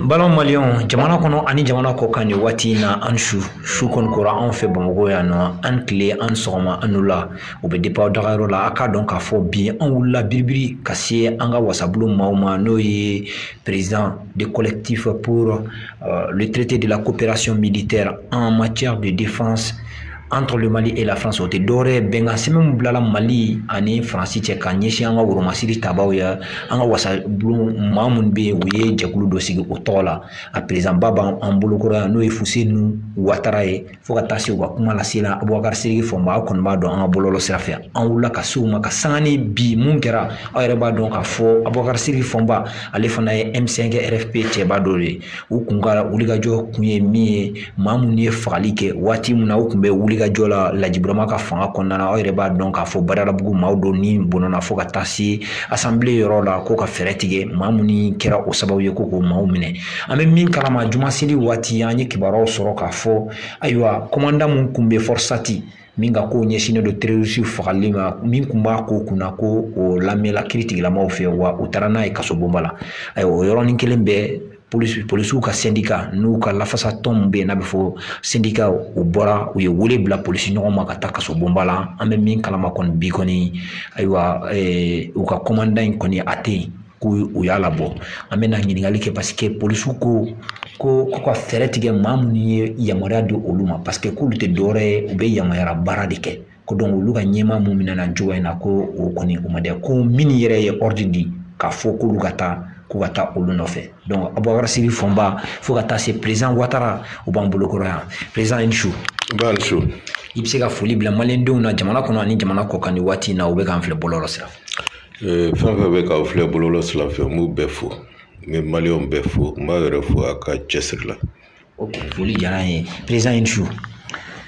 balima maliyɛn jamana kɔnɔ ani jamana kɔ kan nin waati in na an su su kɔni kora anw fɛ bamakɔ yan nɔ an tile an sɔgɔma an wula o bɛ depan dagayɔrɔ la a k'a dɔn k'a fɔ bi an wulila biribiri ka se an ka wasabulon maaw ma n'o ye président de collectif pour euh, le traité de la coopération militaire en matière de défense entre le mali et la france o tɛ dɔwɛrɛ ye bɛnkan sɛbɛn min bilala mali ani faransi cɛ ka ɲɛsin an ka woromasiri tabaw ye an ka wasabulon maa minnu bɛ yen u ye jɛkulu dɔ sigi o tɔgɔ la a perezidanba b'an bolokɔrɔ yan n'o ye fuseni watara ye fo ka taa se u ka kuma lase la abubakar sidiki fɔnba aw kɔni b'a dɔn an ka bɔlɔlɔ sira fɛ an wulila ka se u ma ka sanga ni bi mun kɛra aw yɛrɛ b'a dɔn k'a fɔ abubakar sidiki fɔnba ale fana ye m5 rfp cɛba dɔ de ye u kun ka wulikajɔ kun ye min ye maa minnu ye fagali kɛ waati min na u tun bɛ wulikajɔ la lajiburama ka fanga kɔnɔna na aw yɛrɛ b'a dɔn k'a fɔ badalabugu maaw dɔw ni bɔnɛna fo ka taa se asanbile yɔrɔ la ko ka fɛɛrɛ tigɛ maa minnu kɛra o sababu ye ko k'o maaw minɛ an bɛ min kalama jumaseli waati an ye kibaruyaw sɔrɔ k'a fɔ ayiwa kɔmanda min tun bɛ fɔrisati min ka kow ɲɛsinnen don terorisiw fagali ma min tun b'a ko kunna ko o lamɛnla kiri tigilamaw fɛ wa u taara n'a ye kasobonba la ayiwa o yɔrɔnin kelen bɛɛ polisiw ka sendika n'u ka lafasa tɔn min bɛ yen n'a bɛ fɔ sendika u bɔra u ye wele bila polisi ɲɔgɔn ma ka taa kasobonba la an bɛ min kalama kɔni bi kɔni ayiwa u ka kɔmanda in kɔni a tɛ yen ko u y'a labɔ an bɛna ɲininkali kɛ paseke polisiw ko ko ko ka fɛɛrɛ tigɛ maa minnu ye yamaruya di olu ma paseke k'olu tɛ dɔwɛrɛ ye u bɛ yamaruya baara de kɛ ko olu ka ɲɛmaa mun minɛna cogoya in na ko o kɔni o ma dɛ ko min yɛrɛ ye ɔridi di k'a fɔ k'olu ka taa ko ka taa olu nɔfɛ donc abubakar sidiki fɔnba fo ka taa se perezidan watara u b'an bolo kɔrɔ yan perezidan i ni su nba i ni su i bɛ se ka foli bila maliyɛndenw na jamana kɔnɔ ani jamana kɔ kan ni waati in na u bɛ k'an filɛ bɔlɔlɔ sira fɛ Ee, fɛn fɛn bɛ k'aw filɛ bɔlɔlɔ sira fɛ n b'u bɛɛ fo n bɛ maliyɛnw bɛɛ fo n b'a yɛrɛ fo a ka cɛsiri la foli diyara an ye perezidan i ni su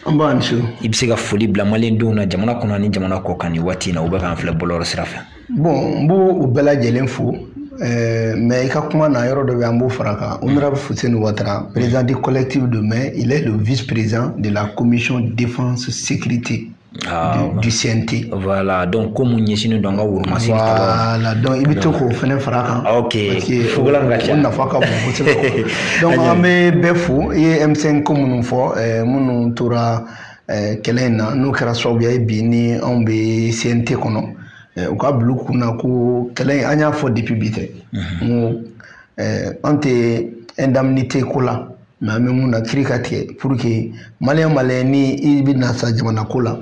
nba i ni su i bɛ se ka foli bila maliyɛndenw na jamana kɔnɔ ani jamana kɔ kan nin waati in na u bɛ k'an filɛ bɔlɔlɔ sira fɛ bɔn n b'u bɛɛ lajɛlen fo eh, mɛ i ka kuma na yɔrɔ dɔ bɛ an b'o fara kan honorable fuseni watara président du collectif de mais il est le vice président de la commission défense sécurité Ah, du, du CNT. Voilà, donc comme on est dans la Wurmasi. Voilà, donc il faut qu'on fasse un fracas. Ok, il faut que l'on fasse un fracas. Donc, on met Befou et M5 comme nous faisons, eh, nous tora eh, kɛlɛ in na n'o kɛra sababuya ye bi ni anw bɛ CNT kɔnɔ eh, u ka bila u kun na ko kɛlɛ in an y'a fɔ depuis bi tɛ n ko an tɛ indemnité ko la mɛ an bɛ mun na kiiri ka tigɛ pour que maliyɛn maliyɛn ni i bɛ na sa jamana ko la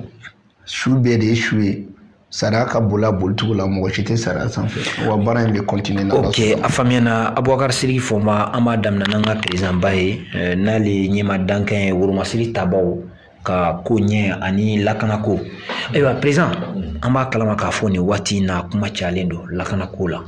su bɛɛ de ye su ye sariya ka boli a bolicogo la mɔgɔ si tɛ sariya sanfɛ wa baara in bɛ kɔntine na ok a faamuyana abubakar siriki fɔnba an b'a daminɛ n'an ka perezanba ye eh, n'ale ɲɛmaa dankan ye woromasiri tabaw ka koɲɛ ani lakanako ayiwa perezan an b'a kalama k'a fɔ nin waati in na kuma cayalen don lakanako la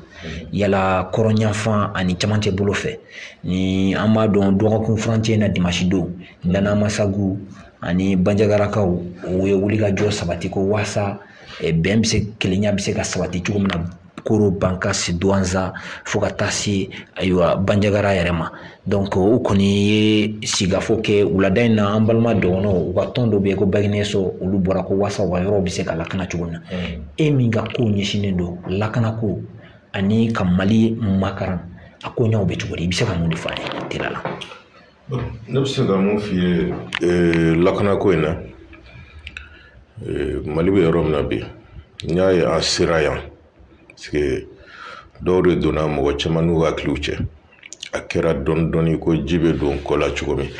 yala kɔrɔn yanfan ani camancɛ bolo fɛ ni an b'a dɔn dɔgɔkun furancɛ in na dimasi don dana amasagu ani banjagarakaw u ye wulikajɔ sabati ko waasa bɛn bɛ se kelenya bɛ se ka sabati cogo min na koro bankasi duwanza fo ka taa se ayiwa banjagara yɛrɛ ma donc u kɔni ye sigikafɔ kɛ wulada in na an balima dɔgɔnɔw u ka tɔn dɔ bɛ yen ko baginɛ so olu bɔra ko waasa u ka yɔrɔ bɛ se ka lakana cogo min na e min ka kow ɲɛsinnen don lakanako ani ka mali makaran a koɲɛw bɛ cogo di i bɛ se ka mun de fɔ an ye teliya la ne bɛ se ka mun f'i ye ee, lakanako in na ee, mali bɛ yɔrɔ min na bi n'i y'a ye an sera yan paseke dɔw de donna mɔgɔ caman n'u hakiliw cɛ a kɛra dɔɔni dɔɔni ko ji bɛ don kɔ la cogo min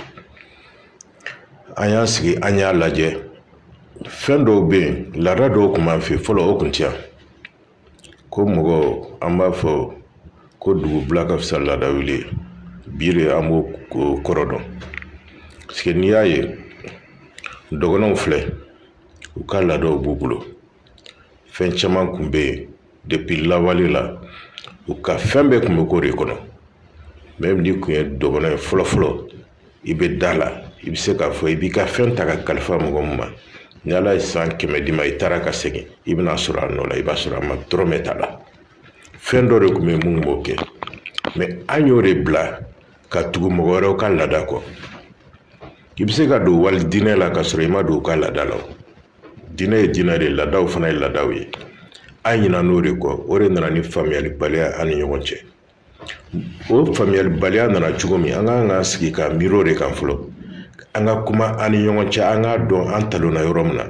an y'an sigi an y'a lajɛ fɛn dɔw bɛ yen laada dɔw tun b'an fɛ fɔlɔ o tun tɛ yan ko mɔgɔ an b'a fɔ ko dugubila ka fisa laadawuli ye bi de an b'o kɔrɔ dɔn paseke n'i y'a ye dɔgɔnɔw filɛ u ka laadaw b'u bolo fɛn caman kun bɛ yen depuis lawale la u ka fɛn bɛɛ kun bɛ k'o de kɔnɔ même n'i kun ye dɔgɔnɔ ye fɔlɔfɔlɔ i bɛ da la i bɛ se k'a fɔ i b'i ka fɛn ta ka kalifa mɔgɔ min ma ni ala ye san kɛmɛ d'i ma i taara ka segin i bɛn'a sɔrɔ a nɔ la i b'a sɔrɔ a ma dɔrɔmɛ t'a la fɛn dɔ de tun bɛ yen min b'o kɛ mɛ an y'o de bila ka tugu mɔgɔ wɛrɛw ka laada kɔ i bɛ se ka don wali diinɛ la ka sɔrɔ i ma don u ka laada la diinɛ ye diinɛ de ye laadaw fana ye laadaw ye an ɲinan'o de kɔ o de nana ni faamuyalibaliya an ni ɲɔgɔn cɛ o faamuyalibaliya nana cogo min an ka kan ka sigi ka miiri o de kan fɔlɔ an ka kuma an ni ɲɔgɔn cɛ an k'a dɔn an talonna yɔrɔ min na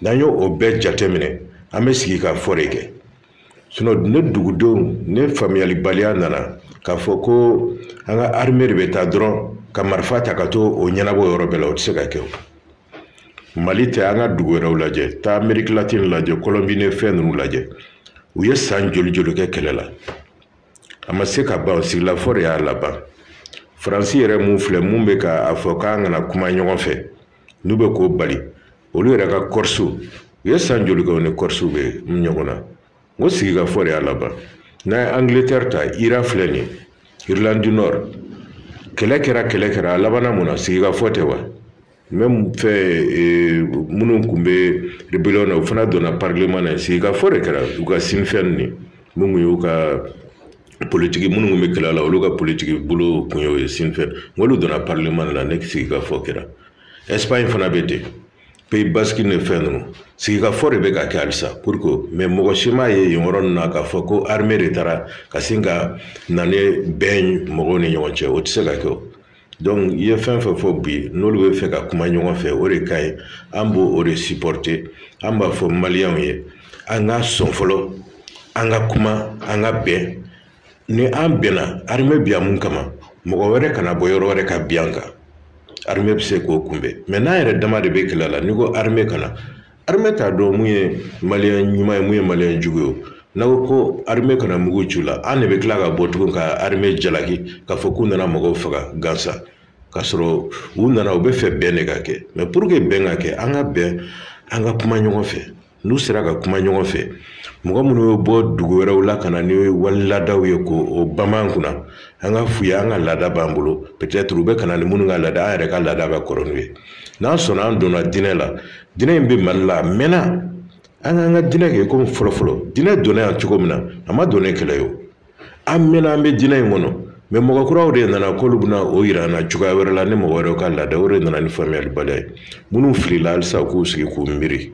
n'an y'o o bɛɛ jateminɛ an bɛ sigikafɔ de kɛ sinon ni dugudenw ni faamuyalibaliya nana k'a fɔ ko an ka arime de bɛ taa dɔrɔn ka marifa ta ka t'o ɲɛnabɔ yɔrɔ bɛɛ la o tɛ se ka kɛ o mali tɛ an ka dugu wɛrɛw lajɛ taa ameriki latini lajɛ kɔlɔnbi ni fɛn ninnu lajɛ u ye san joli joli kɛ kɛlɛ la a ma se ka ban sigilafɔ de y'a laban faransi yɛrɛ mun filɛ mun bɛ ka a fɔ k'an kana kuma ɲɔgɔn fɛ n'u bɛ k'o bali olu yɛrɛ ka kɔrisiw u ye san joli kɛ u ni kɔrisiw bɛ ɲɔgɔn na O sigikafɔ de y'a laban n'a ye Angleterre ta IRA filɛ nin Irlande du Nord kɛlɛ kɛra kɛlɛ kɛra a labanna mun na sigikafɔ tɛ wa même fɛn minnu tun bɛ rébellion na u fana donna parlement na sigikafɔ de kɛra u ka Sinn Féin nin min y'u ka politigi minnu bɛ kɛlɛ la olu ka politigi bolo tun y'o ye Sinn Féin olu donna parlement na ni sigikafɔ kɛra Espagne fana bɛ ten pays basque ni fɛn ninnu sigikafɔ de bɛ ka kɛ halisa pour que mais mɔgɔ si m'a ye yen yɔrɔ ninnu na k'a fɔ ko armée de taara ka sin ka na ni bɛn mɔgɔw ni ɲɔgɔn cɛ o tɛ se ka kɛ o donc i ye fɛn fɛn fɔ bi n'olu bɛ fɛ ka kuma ɲɔgɔn fɛ o de ka ɲi an b'o de supporter an b'a fɔ maliyɛnw ye an ka sɔn fɔlɔ an ka kuma an ka bɛn ni an bɛnna armée bi yan mun kama mɔgɔ wɛrɛ kana bɔ yɔrɔ wɛrɛ ka bin an kan armée bɛ se k'o kunbɛn mais n'an yɛrɛ dama de bɛ kɛlɛ la n'i ko armée ka na armée t'a dɔn mun ye maliyɛn ɲuman ye mun ye maliyɛn jugu ye n'a ko ko armée ka na mugu ci u la an de bɛ tila ka bɔ tugun ka armée jalaki k'a fɔ k'u nana mɔgɔw faga gansan k'a sɔrɔ u nana u bɛ fɛ bɛn de ka kɛ mais pour que bɛn ka kɛ an ka bɛn an ka kuma ɲɔgɔn fɛ n'u sera ka kuma ɲɔgɔn fɛ mɔgɔ minnu bɛ bɔ dugu wɛrɛw la ka na ni wali laadaw ye k'o bama an kunna an k'a f'u ye an ka laada b'an bolo peut-être u bɛ ka na ni minnu ka laada an yɛrɛ ka laada ka kɔrɔ n'u ye n'an sɔnna an donna diinɛ la diinɛ in bɛ mali la a mɛnna an k'an ka diinɛ kɛ komi fɔlɔfɔlɔ diinɛ donna yan cogo min na a ma don ni kɛlɛ ye o an mɛnna an bɛ diinɛ in kɔnɔ mais mɔgɔ kuraw de nana k'olu bɛna o yira an na cogoya wɛrɛ la ni mɔgɔ wɛrɛw ka laada o de nana ni faamuyalibaliya ye minnu filila halisa k'u sigi k'u miiri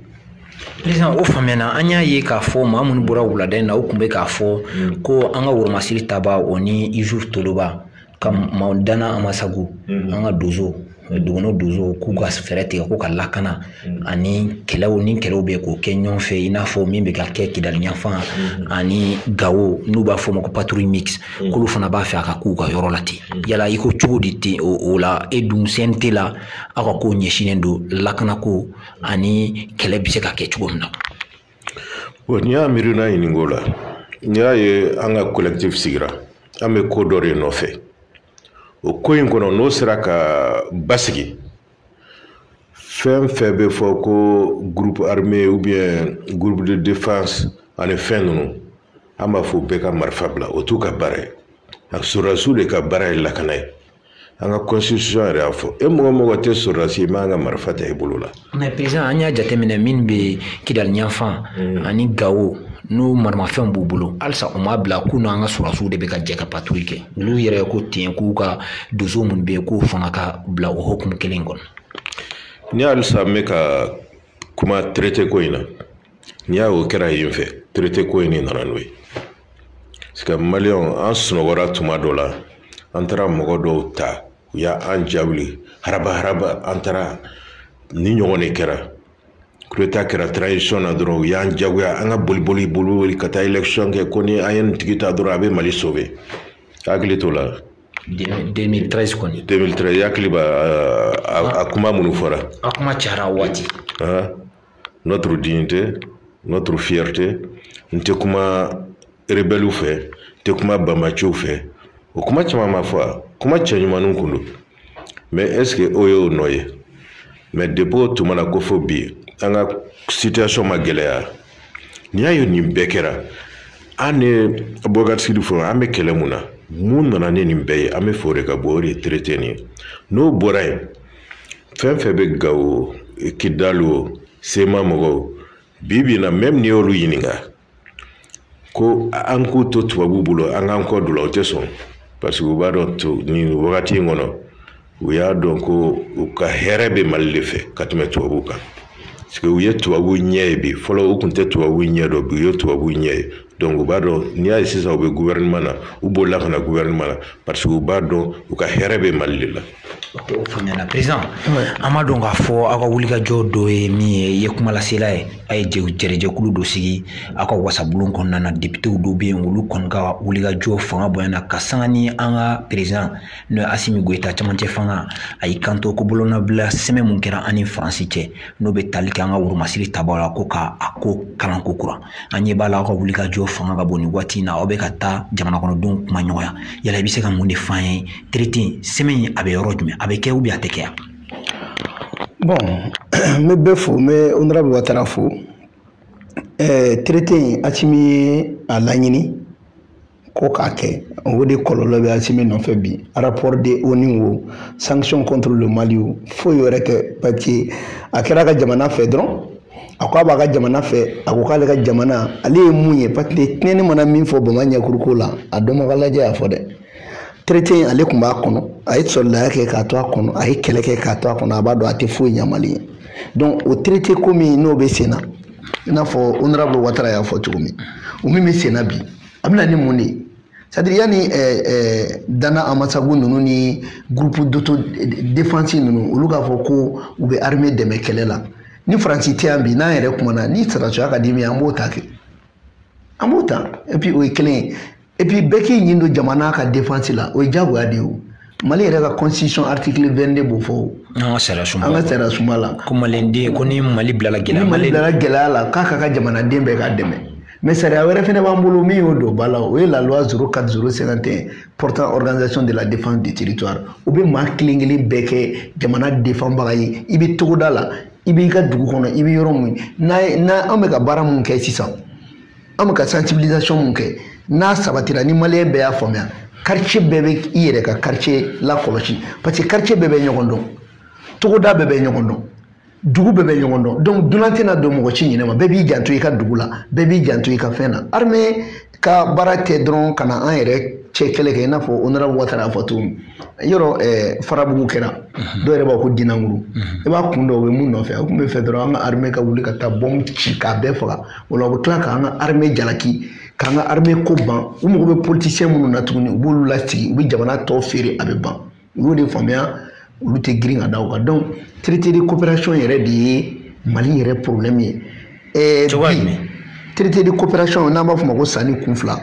président o faamuyana an y'a ye k'a fɔ maa minnu bɔra wulada in na u tun bɛ k'a fɔ ko an ka woromasiri taba o ni Yusuf Toloba ka maaw Danna Amasagu mm-hmm. an ka donso dugukolo donso k'u ka fɛɛrɛ tigɛ k'u ka lakana mm-hmm. ani kɛlɛw ni kɛlɛw bɛ k'o kɛ ɲɔgɔn fɛ i n'a fɔ min bɛ ka kɛ kidali yanfan mm-hmm. ani gawo n'u b'a fɔ o ma ko patrouille mixte k'olu fana b'a fɛ a ka k'u ka yɔrɔ la ten yala i ko cogo di ten o la e dun CNT la aw ka kow ɲɛsinnen don lakanako ani kɛlɛ bɛ se ka kɛ cogo min na Bon n'i y'an miirina ɲininka o la n'i y'a ye an ka collectif sigira an bɛ ko dɔ de nɔfɛ o ko in kɔnɔ n'o sera ka basigi fɛn fɛn bɛ fɔ ko groupe armé ou bien groupe de défense ani fɛn ninnu an b'a fɔ bɛɛ ka marifa bila o t'u ka baara ye a sɔrɔdasiw de ka baara ye lakana ye an ka constitution yɛrɛ y'a fɔ e mɔgɔ mɔgɔ tɛ sɔrɔdasi ye i man kan ka marifa ta i bolo la. mais président an y'a jateminɛ min bɛ kidali yanfan mm. ani gawo n'u maramafɛnw b'u bolo halisa u m'a bila k'u n'an ka sɔrɔdasiw de bɛ ka jɛ ka patrouille kɛ olu yɛrɛ ko ten k'u ka donso minnu bɛ yen k'u fana ka bila o hukumu kelen kɔnɔ. ni halisa n bɛ ka kuma traité ko in na. n'i y'a o kɛra yen fɛ traité ko in de nana n'o ye parce que maliyɛnw an sunɔgɔra tuma dɔ la an taara mɔgɔ dɔw ta u y'an jawuli haraba haraba an taara ni ɲɔgɔn de kɛra coup d'état kɛra transition na dɔrɔn u y'an jagoya an ka boliboli boli ka taa élection kɛ ko ni an ye nin tigi ta dɔrɔn a bɛ mali sauver hakili t'o la 2013 kɔni 2013 i hakili b'a a kuma minnu fɔra a kuma cayara waati notre dignité notre fierté n tɛ kuma rebɛliw fɛ n tɛ kuma banbaaciw fɛ o kuma caman ma fɔ a kuma cɛɲumanninw kun don mais est ce que o y'o nɔ ye mais depuis o tuma na ko fo bi an ka situation ma gɛlɛya n'i y'a ye nin bɛɛ kɛra an ni bɔkari sidi fɔ an bɛ kɛlɛ mun na mun nana ni nin bɛɛ ye an b'a fɛ o de ka bɔ o de ye traité nin ye n'o bɔra yen fɛn fɛn bɛ gawo kidali o CMA mɔgɔw bi bi in na même n'i y'olu ɲininka ko an k'u to tubabuw bolo an k'an kɔ don u la u tɛ sɔn parce que u b'a dɔn nin wagati in kɔnɔ u y'a dɔn ko u ka hɛrɛ bɛ mali de fɛ ka tɛmɛ tubabuw kan parce que u ye tubabuw ɲɛ ye bi fɔlɔ u kun tɛ tubabuw ɲɛ dɔn bi u ye tubabuw ɲɛ ye donc u b'a dɔn n'i y'a ye sisan u bɛ gouvernement na u bolila ka na gouvernement na parce que u b'a dɔn u ka hɛrɛ bɛ mali de la o faamuyana président an b'a dɔn k'a fɔ aw ka wulikajɔ dɔ ye min ye i ye kuma lasela ye a ye jɛrɛjɛkulu dɔ sigi aw ka wasabulon kɔnɔna na depitew dɔw bɛ yen olu kɔni ka wulikajɔ fanga bonyana ka sanga ni an ka président n'o ye asimi goyita cɛmancɛ fanga a y'i kanto ko bolonɔbila sɛbɛn min kɛra an ni faransi cɛ n'o bɛ tali kɛ an ka woromasiri tabaw la ko k'a ko kalan kokura an ɲɛ b'a la aw ka wulikajɔ fanga ka bon nin waati in na aw bɛ ka taa jamana kɔnɔdenw kumaɲɔgɔnya yala i bɛ se ka mun de f'an ye traité sɛbɛn a bɛ yɔrɔ jumɛn a bɛ kɛ ou bien a tɛ kɛ yan bon n bɛ bɛɛ fo n bɛ honorable watara fo ɛɛ traité in asimi ye a laɲini ko k'a kɛ o de kɔlɔlɔ bɛ asimi nɔfɛ bi rapport de ONU wo sanction contre le mali wo foyi wɛrɛ tɛ parce que a kɛra ka jamana fɛ dɔrɔn a ko a b'a ka jamana fɛ a ko k'ale ka jamana ale ye mun ye parce que tinɛnin mana min fɔ bama ɲɛkuru ko la a dɔnbaga lajɛ y'a fɔ dɛ traité in ale tun b'a kɔnɔ a ye sɔrɔdasiya kɛ k'a to a kɔnɔ a ye kɛlɛ kɛ k'a to a kɔnɔ a b'a dɔn a tɛ foyi ɲɛ mali ye donc o traité ko min n'o bɛ sen na i n'a fɔ honorable watara y'a fɔ cogo min o min bɛ sen na bi a bɛna ni mun de ye c'est-à-dire yanni ɛɛ eh, ɛɛ eh, dana amasagu ninnu ni groupe d'autodéfense ninnu olu k'a fɔ ko u bɛ armée dɛmɛ kɛlɛ la ni faransi tɛ yan bi n'an yɛrɛ kumana ni sɔrɔdasiya ka di min ye an b'o ta kɛ an b'o ta et puis o ye kelen ye et puis bɛɛ k'i ɲin don jamana ka défense la o ye diyagoya de ye o mali yɛrɛ ka constitution article 22 b'o fɔ an ka sariya sunba an ka sariya sunba la ko maliden ko ni mali bilala gɛlɛya ni mali bilala gɛlɛya la k'a ka ka jamanaden bɛɛ k'a dɛmɛ mais sariya wɛrɛ fɛnɛ b'an bolo min y'o don ba la o ye la loi 04051 portant organisation de la défense du territoire o bɛ maa kelen kelen bɛɛ kɛ jamana defanbaga ye i bɛ togoda la i b'i ka dugu kɔnɔ i bɛ yɔrɔ mun na an bɛ ka baara mun kɛ sisan an bɛ ka sensibilisation mun kɛ n'a sabatira ni maliyɛn bɛɛ y'a faamuya quartier bɛɛ bɛ i yɛrɛ ka quartier lakɔlɔsi parce que quartier bɛɛ bɛ ɲɔgɔn dɔn togoda bɛɛ bɛ ɲɔgɔn dɔn dugu bɛɛ bɛ ɲɔgɔn dɔn donc dunan tɛna don mɔgɔ si ɲinɛ ma bɛɛ b'i janto i ka dugu la bɛɛ b'i janto i ka fɛn na armée ka baara tɛ dɔrɔn ka na an yɛrɛ cɛ kɛlɛ kɛ i n'a fɔ honorable watara y'a fɔ cogo min yɔrɔ eh, farabugu kɛra mhm. dɔw yɛrɛ b'a ko dinanguru mhm. i b'a kun dɔn o bɛ mun nɔfɛ a tun bɛ fɛ dɔrɔn an ka armée ka wuli ka taa bombe ci k'a bɛɛ faga o la u bɛ tila k'an ka armée jalaki k'an ka armée ko ban u mago bɛ politicien minnu na tuguni u b'olu lasigi u bɛ jamana tɔ feere a bɛ ban u y'o de faamuya olu tɛ girin ka da o kan donc traité de coopération yɛrɛ de ye mali yɛrɛ problème ye. Eh, cogoya jumɛn traité de coopération n'an b'a fɔ o ma ko sanin kun fila.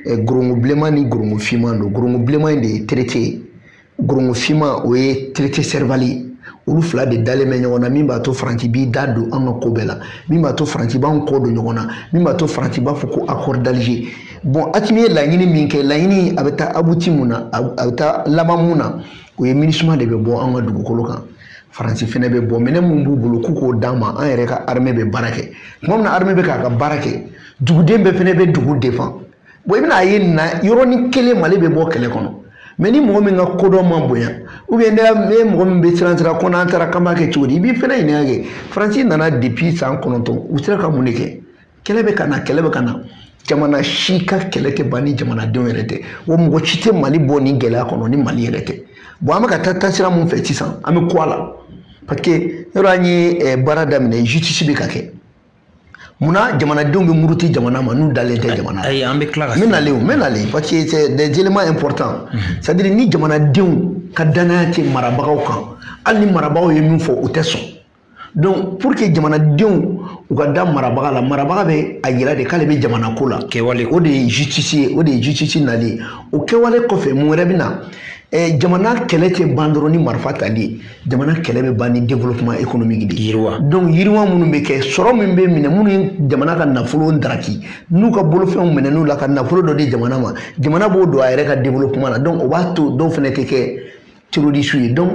Gorongo bilenman ni gorongo finman don gorongo bilenman in de ye traité ye gorongo finman o ye traité serval olu fila de dalen bɛ ɲɔgɔn na min b'a to faransi b'i da don an ka ko bɛɛ la min b'a to faransi b'an kɔ don ɲɔgɔn na min b'a to faransi b'a fɔ ko accord d'alger bon asimi ye laɲini min kɛ laɲini a bɛ taa abuti mun na a bɛ taa laban mun na o ye minusma de bɛ bɔ an ka dugukolo kan faransi fɛnɛ bɛ bɔ minɛn mun b'u bolo k'u k'o d'an ma an yɛrɛ ka armée bɛ baara kɛ tuma min na armée bɛ k'a ka baara kɛ duguden bɛɛ fɛnɛ bɛ dugu défend bon i bɛna ye na yɔrɔnin kelen mali bɛ bɔ kɛlɛ kɔnɔ mais ni mɔgɔ min ka kodɔn ma bonya ou bien ne ye mɔgɔ min bɛ siran siran ko n'an taara k'an b'a kɛ cogo di i b'i fɛnɛ ɲininka kɛ faransi nana depuis san kɔnɔntɔn u sera ka mun de kɛ kɛlɛ bɛ ka na kɛlɛ bɛ ka na jamana si ka kɛlɛ tɛ ban ni jamanadenw yɛrɛ tɛ wa mɔgɔ si tɛ mali bɔ nin gɛlɛya kɔnɔ ni mali yɛrɛ tɛ bon an bɛ ka taa taasira mun fɛ sisan an bɛ croit a la parce que yɔrɔ an ye eh, baara daminɛ justice bɛ ka kɛ munna jamanadenw bɛ muruti jamana ma n'u dalen tɛ jamana ayi an bɛ tila ka n bɛ nalen o n bɛ nalen parce que c'est des éléments importants c'est à dire ni jamanadenw ka danaya tɛ marabagaw kan hali ni marabagaw ye min fɔ u tɛ sɔn donc pour que jamanadenw u ka da marabaga la marabaga bɛ a yira de k'ale bɛ jamana ko la kɛwale o de ye justice ye o de ye justice nali ye o kɛwale kɔfɛ mun wɛrɛ bɛ na eh, jamana kɛlɛ tɛ ban dɔrɔn ni marifa tali ye jamana kɛlɛ bɛ ban ni développement économique de ye donc yiriwa minnu bɛ kɛ sɔrɔ min bɛ minɛ minnu ye jamana ka nafolo daraki n'u ka bolofɛnw minɛ n'u la ka nafolo dɔ di jamana ma jamana b'o don a yɛrɛ ka développement la donc o b'a to dɔw fana tɛ kɛ terroriste ye donc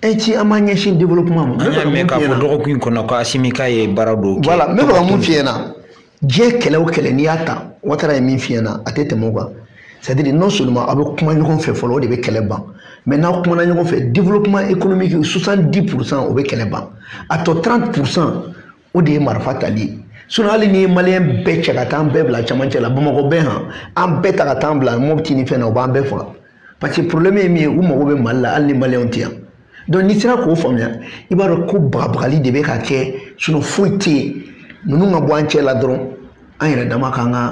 ainsi an b'an ɲɛsin développement ma. an y'a mɛn k'a fɔ dɔgɔkun in kɔnɔ ko asimi k'a ye baara dɔw kɛ. voilà n bɛ fɛ ka mun f'i ɲɛna. diɲɛ kɛlɛ o kɛlɛ n'i y'a ta watara ye min f'i ɲɛ na a tɛ tɛmɛ o kan c'est à dire non seulement aw bɛ kuma ɲɔgɔn fɛ fɔlɔ o de bɛ kɛlɛ ban mais n'aw kumana ɲɔgɔn fɛ développement économique 70 pourcent o bɛ kɛlɛ ban a tɔ 30 pourcent o de ye marifa tali ye sinon hali n'i ye maliyɛn bɛɛ cɛ ka taa an bɛɛ bila cɛmancɛ la bamakɔ bɛɛ han an bɛɛ ta ka taa an bila mopti ni fɛn na u b'an bɛɛ faga parce que problème ye min ye u mago bɛ mali la hali ni maliyɛnw tɛ yan donc n'i sera k'o faamuya i b'a dɔn ko bagabagali de bɛ ka kɛ sinon foyi tɛ yen ninnu ka bɔ an cɛ la dɔrɔn an yɛrɛ dama k'an ka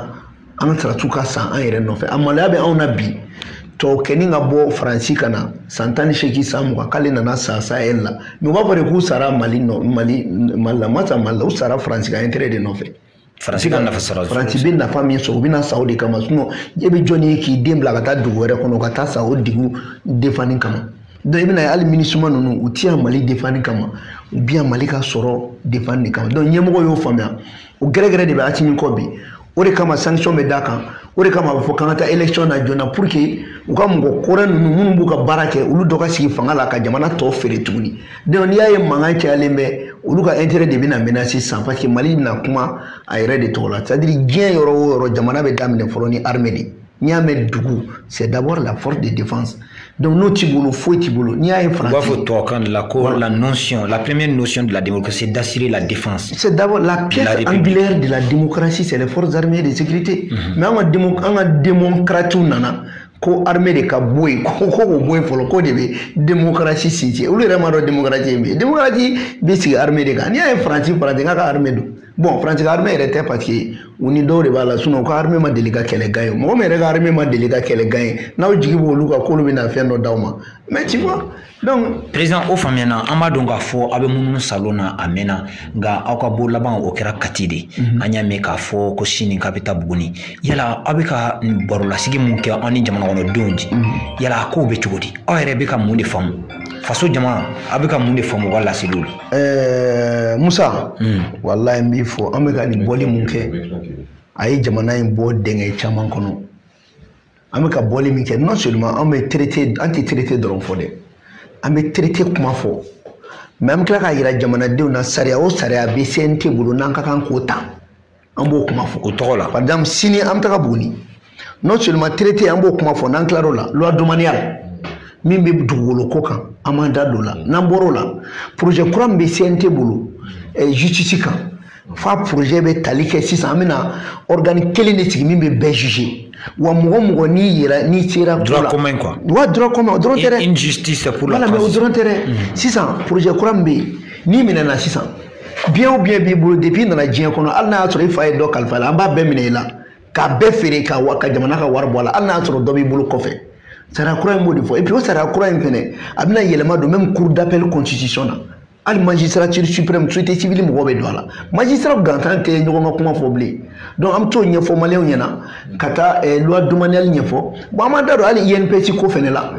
an ka sɔrɔdasiw ka sa an yɛrɛ nɔfɛ a maloya bɛ anw na bi tɔkɛni ka bɔ faransi ka na san tan ni seegin san mugan k'ale nana sa sahɛl la mais u b'a fɔ de k'u sara mali nɔ mali mali la u ma sa mali la u sara faransi ka intérêt de nɔfɛ faransi ka nafa sɔrɔ faransi bɛ nafa min sɔrɔ u bɛna sa o de kama sinon e bɛ jɔn ye k'i den bila ka taa dugu wɛrɛ kɔnɔ ka taa sa o dugu defanni kama donc i bɛna ye hali minisuma ninnu u ti yan mali defanni kama u bɛ yan mali ka sɔrɔ defanni de kama donc ɲɛmɔgɔ y'o faamuya o gɛrɛgɛrɛ de bɛ asimi kɔ bi o de kama sanction bɛ d'a kan o de kama a bɛ fɔ k'an ka taa élection na joona pour que u ka mɔgɔ kɔrɔ ninnu minnu b'u ka baara kɛ olu dɔ ka sigi fanga la ka jamana tɔ feere tuguni donc n'i y'a ye mankan cayalen bɛ olu ka intérêt de bɛna menacer sisan parce que mali bɛna kuma a yɛrɛ de tɔgɔ la c'est à dire diɲɛ yɔrɔ o yɔrɔ jamana bɛ daminɛ fɔlɔ ni armée de n'i y'a mɛn dugu c'est d'abord la force de défense Donc n'o t'i bolo foyi t'i bolo n'i y'a ye faransi. U b'a fɔ tubabukan de la ko voilà. la notion la première notion de la démocratie c'est d'assurer la défense. C'est d'abord la pierre angulaire de la démocratie c'est les forces armées et de sécurité. Mm -hmm. Mais an ka démo an ka démocrates nana ko armée de ka bɔ yen ko ko k'o bɔ yen fɔlɔ k'o de bɛ démocratie sinsin olu yɛrɛ m'a dɔn démocratie ye min ye démocratie bɛ sigi armée de kan n'i y'a ye faransi faransi k'a ka armée don. bon faransi ka armée yɛrɛ tɛ parce que u ni dɔw de b'a la sinon u ka armée ma deli ka kɛlɛ gagner mɔgɔ min yɛrɛ ka armée ma deli ka kɛlɛ gagner n'aw jigi b'olu kan k'olu bɛna fɛn dɔ d'aw ma mais tu vois donc président o faamuyana an b'a dɔn k'a fɔ aw bɛ munumunu salon na a mɛnna nka aw ka bɔ laban o kɛra kati de mhm. an y'a mɛn k'a fɔ ko sini k'a bɛ taa buguni yala aw bɛ ka barolasigi min kɛ aw ni jamanakɔnɔdenw cɛ mhm. yala a kow bɛ cogo di aw yɛrɛ bɛ ka mun de faamu faso jama aw bɛ ka mun de faamu u ka laseliw la ɛɛ musa walayi n b'i fo an bɛ ka nin bɔli min kɛ a ye jamana in bɔ dɛngɛ caman kɔnɔ an bɛ ka bɔli min kɛ non seulement an bɛ traité an tɛ traité dɔrɔn fɔ dɛ an bɛ traité kuma fɔ mais an bɛ tila k'a yira jamanadenw na sariya o sariya bɛ CNT bolo n'an ka kan k'o ta an b'o kuma fɔ o tɔgɔ la par exemple sini an bɛ taga buguni non seulement traité an b'o kuma fɔ n'an tilar'o la loi domaniale min bɛ dugukolo ko kan an b'an da don o la n'an bɔr'o la projet kura min bɛ CNT bolo eh, justice kan f'a projet bɛ tali kɛ sisan an bɛna organe kelen de sigi min bɛ bɛɛ juger wa mɔgɔ mɔgɔ n'i yɛrɛ n'i sera droit commun quoi wa droit commun o dɔrɔn tɛ dɛ une justice pour la voilà mais o dɔrɔn tɛ dɛ sisan projet kura min bɛ yen n'i minɛna sisan bien o bien b'i bolo depuis i nana diɲɛ kɔnɔ hali n'a y'a sɔrɔ i fa ye dɔ kalifa la an b'a bɛɛ minɛ i la k'a bɛɛ feere ka wa ka jamana ka wari bɔ a la hali n'a y'a sɔrɔ dɔ b'i bolo kɔfɛ sariya kura in b'o de fɔ et puis o sariya kura in fɛnɛ a bɛna yɛlɛma don même cour d'appel constitution na hali magistrature suprême société civile mɔgɔw bɛ don a la magistrat gansan tɛ ɲɔgɔn ka kuma fɔ bilen donc an bɛ t'o ɲɛfɔ maliyɛnw ɲɛna ka taa eh, loi domaniale ɲɛfɔ bon an m'an da don hali INPS ko fɛnɛ la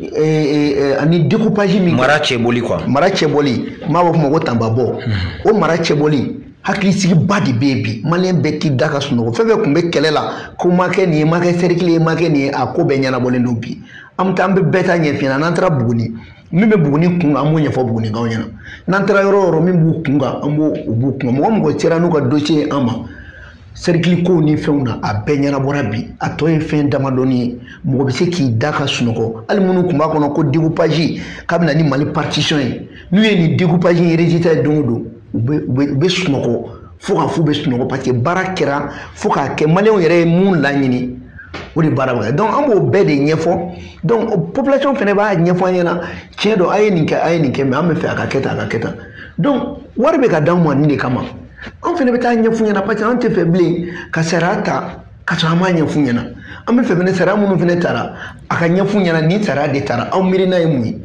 eh, eh, ani découpage min mara cɛbɔli quoi mara cɛbɔli m'a b'a fɔ o ma ko tanbabɔ hmm. o mara cɛbɔli hakilisigiba de bɛ yen bi maliyɛn bɛ t'i da ka sunɔgɔ fɛn fɛn tun bɛ kɛlɛ la ko ma kɛ nin ye ma kɛ sɛrikili ye ma kɛ nin ye a ko bɛɛ ɲɛnabɔlen don bi an bɛ taa an bɛ bɛɛ ta ɲɛf'i ɲɛna n'an taara buguni min bɛ buguni kun kan an b'o ɲɛfɔ bugunikaw ɲɛna n'an taara yɔrɔ yɔrɔ min b'u kun kan an b'o u b'u kun kan mɔgɔ mɔgɔ sera n'u ka dossier ye an ma sɛrikili kow ni fɛnw na a bɛɛ ɲɛnabɔra bi a tɔ ye fɛn damadɔni ye mɔgɔ bɛ se k'i da ka sunɔgɔ hali minnu tun b'a kɔnɔ ko découpage k'a bɛna ni mali partition ye n'u ye nin découpage in résultat ye don o don u bɛ u bɛ u bɛ sunɔgɔ fo ka f'u bɛ sunɔgɔ parce que baara kɛra fo k'a kɛ maliyɛnw yɛrɛ ye mun laɲini o de baara bɛ kɛ donc an b'o bɛɛ de ɲɛfɔ donc population fana b'a ɲɛfɔ an ɲɛna tiɲɛ don a ye nin kɛ a ye nin kɛ mais an bɛ fɛ a ka kɛ tan a ka kɛ tan donc wari bɛ ka d'anw ma nin de kama anw fana bɛ taa ɲɛf'u ɲɛna parce que an tɛ fɛ bilen ka sariya ta ka sɔrɔ an m'a ɲɛf'u ɲɛna an bɛ fɛ fana sariya minnu fana tara a ka ɲɛf'u ɲɛna nin sariya de tara aw miirina ye mun ye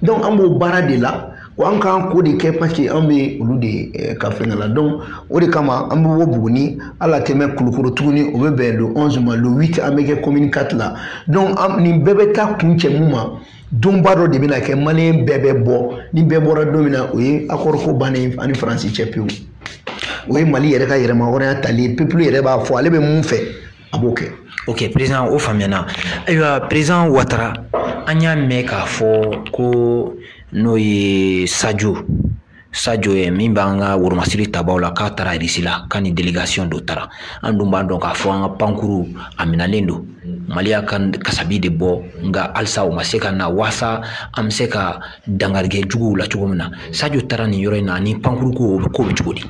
donc an b'o baara de la wa an k'an ko de kɛ parce que an bɛ olu de eh, ka fɛngɛ la donc o de kama an bɛ bɔ buguni an na tɛmɛ kulukoro tuguni o bɛ bɛn le 11 ma le 8 an bɛ kɛ commune 4 la donc nin bɛɛ bɛ taa kuncɛ mun ma donba dɔ de bɛna kɛ maliyɛn bɛɛ bɛ bɔ ni bɛɛ bɔra don min na o ye accord ko bannen an ni faransi cɛ pewu o ye mali yɛrɛ ka yɛrɛmahɔrɔnya tali ye peuple yɛrɛ b'a fɔ ale bɛ mun fɛ a b'o kɛ ok président o faamuyana ayiwa président watara an y'a mɛn k'a fɔ ko n'o ye sajo sajo ye min b'an ka woromasiri tabaw la k'a taara irisi la k'a ni délégation dɔ taara an dun b'a dɔn k'a fɔ an ka pankuru a minɛlen don mali y'a ka kasabi de bɔ nka halisa o ma se ka na waasa an bɛ se ka dankari kɛ juguw la cogo min na sajo taara nin yɔrɔ in na ani pankuruko o bɛ ko bɛ cogo di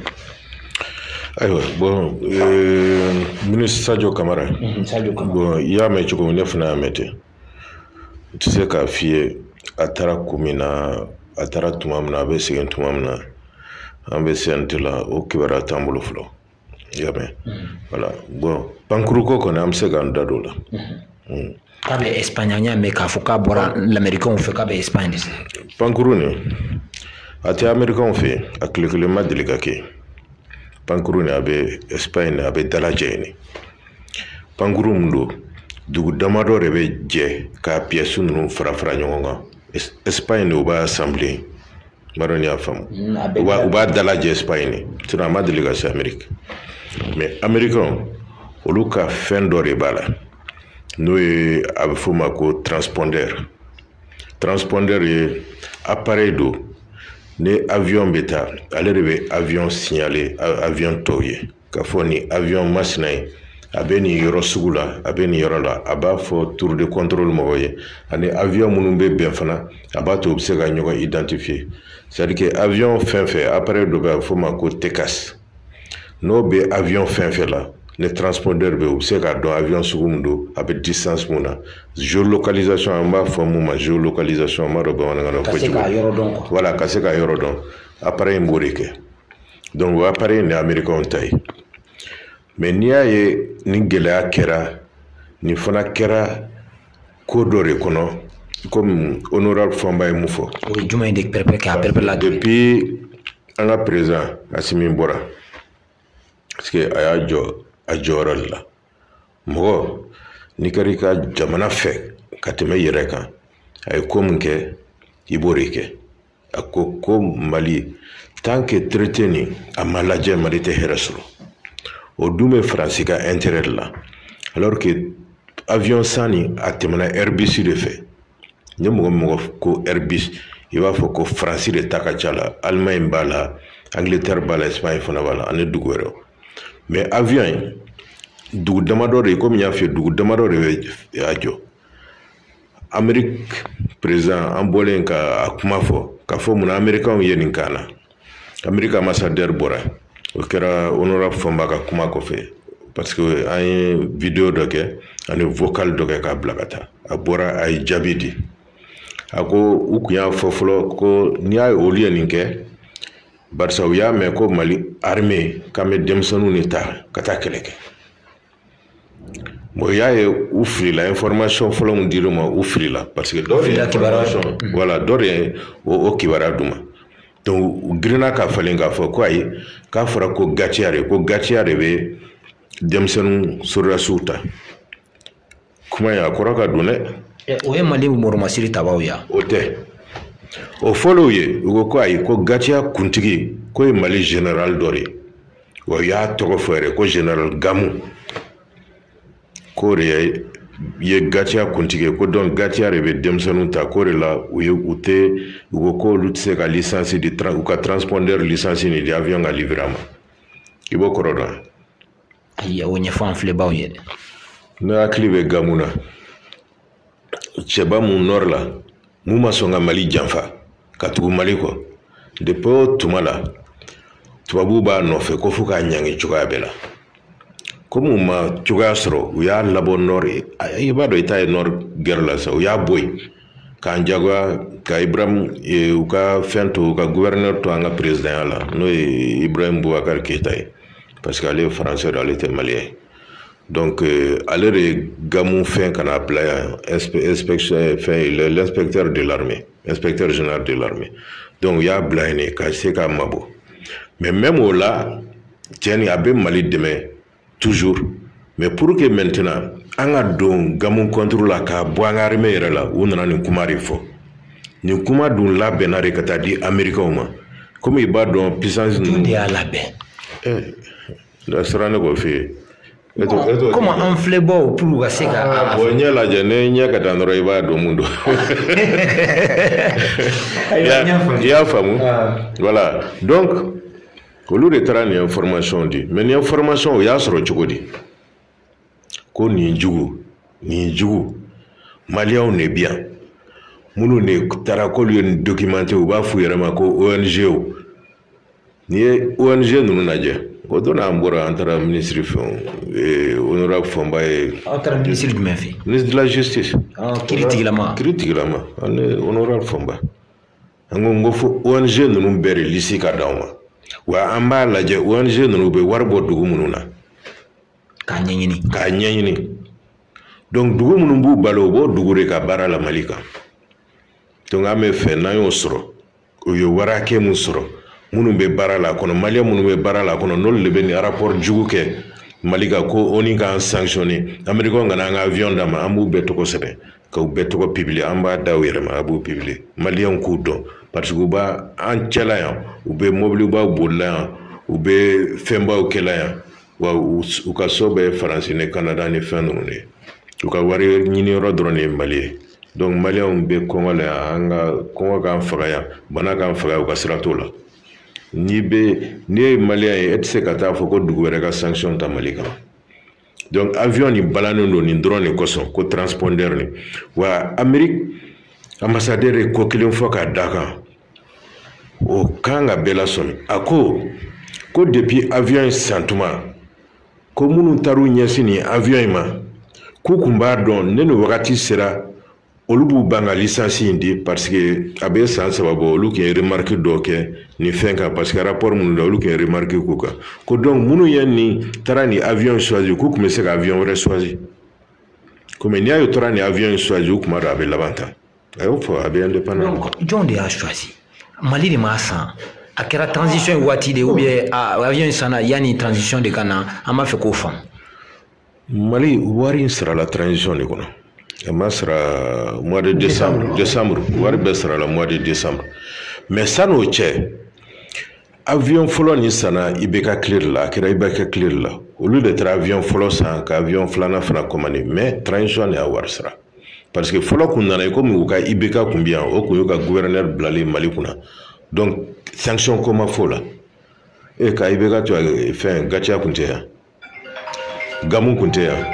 ayiwa bon euh, ministre sajo kamara mhm, bon i y'a mɛn cogo min ne fana y'a mɛn ten n tɛ se k'a f'i ye a taara kun min na a taara tuma min na a bɛ segin tuma min na an bɛ CNT la o kibaruya t'an bolo fɔlɔ i y'a mɛn mhm. voilà bon pankuruko kɔni an bɛ se k'an da don o la mhm. mm. k'a bɛ espagne an y'a mɛn k'a fɔ k'a bɔra lamɛrikanw fɛ k'a bɛ espagne pankuru nin a tɛ amerikanw fɛ yen a tile kelen ma deli ka kɛ pankuru nin a bɛ espagne a bɛ dalajɛ yen pankuru min don dugu damadɔ de bɛ jɛ k'a pièces ninnu fara fara ɲɔgɔn kan espagne de o b'a assembler n m'a dɔn n'i y'a faamu u b'a dalajɛ espagne de sinon a ma deli ka se ameriki mais amerikanw olu ka fɛn dɔ de b'a la n'o ye a bɛ f'o ma ko transpondeur transpondeur ye appareil don ni avion bɛ taa ale de bɛ avion signaler avion tɔw ye k'a fɔ nin avion masina ye a bɛ nin yɔrɔ sugu la a bɛ nin yɔrɔ la a b'a fɔ tour de contrôle mɔgɔw ye ani avion minnu bɛ bɛn fana a b'a to u bɛ se ka ɲɔgɔn identifier c'est à dire que avion fɛn fɛn appareil dɔ bɛ yen a bɛ f'o ma ko TCAS n'o bɛ avion fɛn fɛn la ni transpondeur bɛ u bɛ se k'a dɔn avion sugu min don a bɛ distance min na géolocalisation an b'a fɔ min ma géolocalisation an m'a dɔn bamanankan na ko cogo voilà ka se ka yɔrɔ dɔn appareil in b'o de kɛ donc o appareil in de ye américainw ta ye mais n'i y'a ye nin gɛlɛya kɛra nin fana kɛra ko dɔ de kɔnɔ komi honorable fɔnba ye min fɔ o ye jumɛn de pɛrɛpɛrɛ k'a pɛrɛpɛrɛ la depuis an ka président asimi bɔra parce que a y'a jɔ a jɔyɔrɔ de la mɔgɔ n'i kɛra i ka jamana fɛ ka tɛmɛ i yɛrɛ kan a ye ko min kɛ i b'o de kɛ a ko ko mali tant que traité nin a ma lajɛ mali tɛ hɛrɛ sɔrɔ o dun bɛ faransi ka intérêt de la alors que avion san nin a tɛmɛna airbus de fɛ ni mɔgɔ mɔgɔ ko airbus i b'a fɔ ko faransi de ta ka ca la allemagne b'a la angleterre b'a la espagne fana b'a la ani dugu wɛrɛw mais avion in dugu damadɔ de komi n y'a f'i ye dugu damadɔ de bɛ a jɔ ameriki président an bɔlen ka a kuma fɔ k'a fɔ munna amerikanw ye nin k'an na ameriki ambassadeur bɔra o kɛra honorable fɔnba ka kuma kɔfɛ parce que an ye video dɔ kɛ ani vocal dɔ kɛ k'a bila ka taa a bɔra a ye jaabi di a ko u kun y'a fɔ fɔlɔ ko n'i y'a ye olu ye nin kɛ barisa u y'a mɛn ko mali armée k'an bɛ denmisɛnninw de ta ka taa kɛlɛ kɛ bon i y'a ye u filila information fɔlɔ min dir'u ma u filila parce que dɔ de ye information voilà dɔ de ye o o kibaruya d'u ma donc u girinna k'a falen k'a fɔ ko ayi k'a fɔra ko gatiya de ko gatiya de bɛ denmisɛnninw sɔrɔdasiw ta kuma in a kɔrɔ ka dun dɛ eh, o ye mali mɔrɔmasiri tabaw ye o tɛ o fɔlɔw ye u ko ko ayi ko gatiya kuntigi ko ye mali général dɔ de ye wa u y'a tɔgɔ fɔ yɛrɛ ko général gamu k'o de ye gatiya kuntigi ye ko donc gatiya de bɛ denmisɛnninw ta k'o de la u ye u tɛ u ko ko olu tɛ se ka licence di u ka transpondeur licence nin di avion ka livrer a ma i b'o kɔrɔ dɔn ayi o ɲɛfɔ an filɛbaaw ye dɛ ne hakili bɛ gamu na cɛba mun nord la mun ma sɔn ka mali janfa ka tugu mali kɔ depuis o tuma la tubabuw b'a nɔfɛ ko fo k'a ɲangi cogoya bɛɛ la komi u ma cogoya sɔrɔ u y'a labɔ nord i b'a dɔn i ta ye nord gɛrɛ la sa u y'a bɔ yen k'an jagoya ka ibrahim e, u ka fɛn to u ka gouverneur to an ka perezidanya la n'o ye ibrahim boubacar keita ye parce que ale ye français don ale tɛ maliyɛn ye donc e, ale de ye gamu fɛn ka n'a bila yan inspection e, fɛn l'inspecteur de l'armée inspecteur général de l'armée donc u y'a bila yen de ka se k'a mabɔ mais même o la cɛ nin a bɛ mali dɛmɛ toujours mais pour que maintenant an ka don gamu contre la k'a bɔ an ka armée yɛrɛ la u nana nin kuma de fɔ nin kuma dun labɛnna de ka taa di amerikɛnw ma komi i b'a dɔn puissance ninnu de y'a labɛn eh, da sera ne k'o f'i ye komi an filɛbaaw pour u ka se ka ah, bon ɲɛ lajɛ ne ɲɛ ka dan dɔrɔn i b'a dɔn mun don i y'a faamu ah. voilà donc olu de taara nin information di mais nin information o y'a sɔrɔ cogo di ko ninjugu ninjugu maliyɛnw de bi yan minnu de taara k'olu ye nin documenté u b'a f'u yɛrɛ ma ko ong o n'i ye ong ninnu lajɛ o don an bɔra an taara minisiri fɛ eh, honorable fomba ye aw taara minisiri jumɛn fɛ ministre de la justice ah, kiiri tigilama kiiri tigilama ani honorable fomba an ko n ko fo ong ninnu bɛɛ de lisi ka d'anw ma wa an b'a lajɛ ong ninnu bɛ wari bɔ dugu minnu na k'a ɲɛɲini k'a ɲɛɲini donc dugu minnu b'u balo u b'o dugu de ka baara la mali kan donc an b'a fɛ n'an y'o sɔrɔ u ye wari hakɛ min sɔrɔ minnu bɛ baara la kɔnɔ maliyɛn minnu bɛ baara la kɔnɔ n'olu de bɛ nin rapport jugu kɛ mali kan ko onu k'an sanctionné américain kana an ka avion d'a ma an b'u bɛɛ tɔgɔ sɛbɛn k'u bɛɛ tɔgɔ publier an b'a d'aw yɛrɛ ma a b'u publier maliyɛnw k'u dɔn parce que u b'an cɛla yan u bɛ mobilibaw bolila yan u bɛ fɛnbaw kɛla yan wa u ka so bɛ faransi ni kanada ni fɛn ninnu de u ka wari ɲini yɔrɔ dɔrɔn de ye mali ye donc maliyɛnw bɛ kɔngɔ la yan an ka kɔngɔ k'an faga yan bana k'an faga u ka sira t'o la n'i bɛ n'i ye maliyɛn ye e tɛ se ka taa fɔ ko dugu wɛrɛ ka sanction ta mali kan donc avion nin balannen don nin dɔrɔn de kosɔn ko transpondeur nin wa amerique ambassadeur ye ko kelen fɔ k'a da kan o kan ka bɛɛ lasɔmi a ko ko depuis avion in san tuma ko minnu taar'u ɲɛsin nin avion in ma k'u kun b'a dɔn ne ni wagati sera olu b'u ban ka lisansi in di paseke a bɛ san saba bɔ olu tun ye remariki dɔ kɛ nin fɛn kan paseke rapport minnu da olu tun ye remariki k'u kan ko donc minnu ye nin taara nin avion choisi k'u tun bɛ se ka avion wɛrɛ choisi komi n'i y'a ye u taara nin avion in choisi u kun b'a dɔn a bɛ laban tan a y'o fɔ a bɛ indépendant jɔn de y'a choisi mali de m'a san a kɛra transition waati de ou bien avion in sanna yanni transition de ka na an b'a fɛ k'o faamu mali wari in sarala transition de kɔnɔ a ma sara mois de décembre décembre wari bɛɛ sarala mois de décembre mais san'o cɛ avion fɔlɔ nin sanna ibk kile de la a kɛra ibk kile de la olu de taara avion fɔlɔ san ka avion filanan fana commande mais transition de y'a wari sara parce que fɔlɔ kun nana i komi u ka ibk kun bɛ yan o kun y'u ka gouverneur bilalen mali kunna donc sanction ko ma f'o la e ka ibk to fɛn gatiya kun tɛ yan gamu kun tɛ yan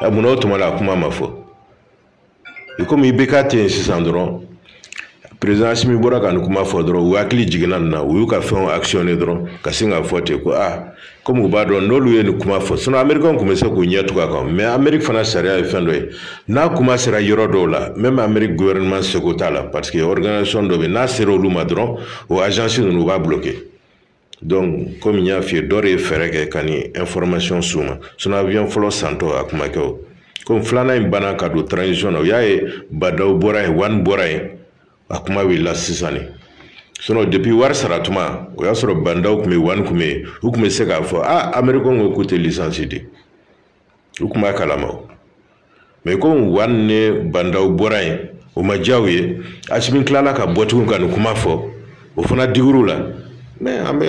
ɛ munna o tuma la a kuma ma fɔ i komi ibk tɛ yen sisan dɔrɔn perezan asimi bɔra ka nin kuma fɔ dɔrɔn u hakili jiginna nin na u y'u ka fɛnw akisiyɔne dɔrɔn ka sin k'a fɔ ten ko a komi u b'a dɔn n'olu ye nin kuma fɔ sinɔn amerikɛnw tun bɛ se k'u ɲɛ tugu a kan mɛ ameriki fana sariya ye fɛn dɔ ye n'a kuma sera yɔrɔ dɔw la mɛmi ameriki guvɛrɛnɛman seko t'a la pariseke ɔriganisasɔn dɔ bɛ n'a sera olu ma dɔrɔn o ajansi ninnu u b'a bloke donc komi n y'a f'i ye dɔ de ye fɛɛrɛ kɛ ka nin information s'u ma sinɔn avion fɔlɔ santɔ a kun ma kɛ o komi filanan in banna ka don transition na u y'a ye bandaw bɔra yen wani bɔra yen a kuma wulila sisan ne sinɔn depuis wari sara tuma o y'a sɔrɔ bandaw tun bɛ yen wani tun bɛ yen u tun bɛ se k'a fɔ a amerikɛnw ko k'u tɛ lisansi di u tun b'a kalama mɛ komi wani ni bandaw bɔra yen o ma diya u ye asimi tilala ka bɔ tugun ka nin kuma fɔ o fana digir'u la mɛ an bɛ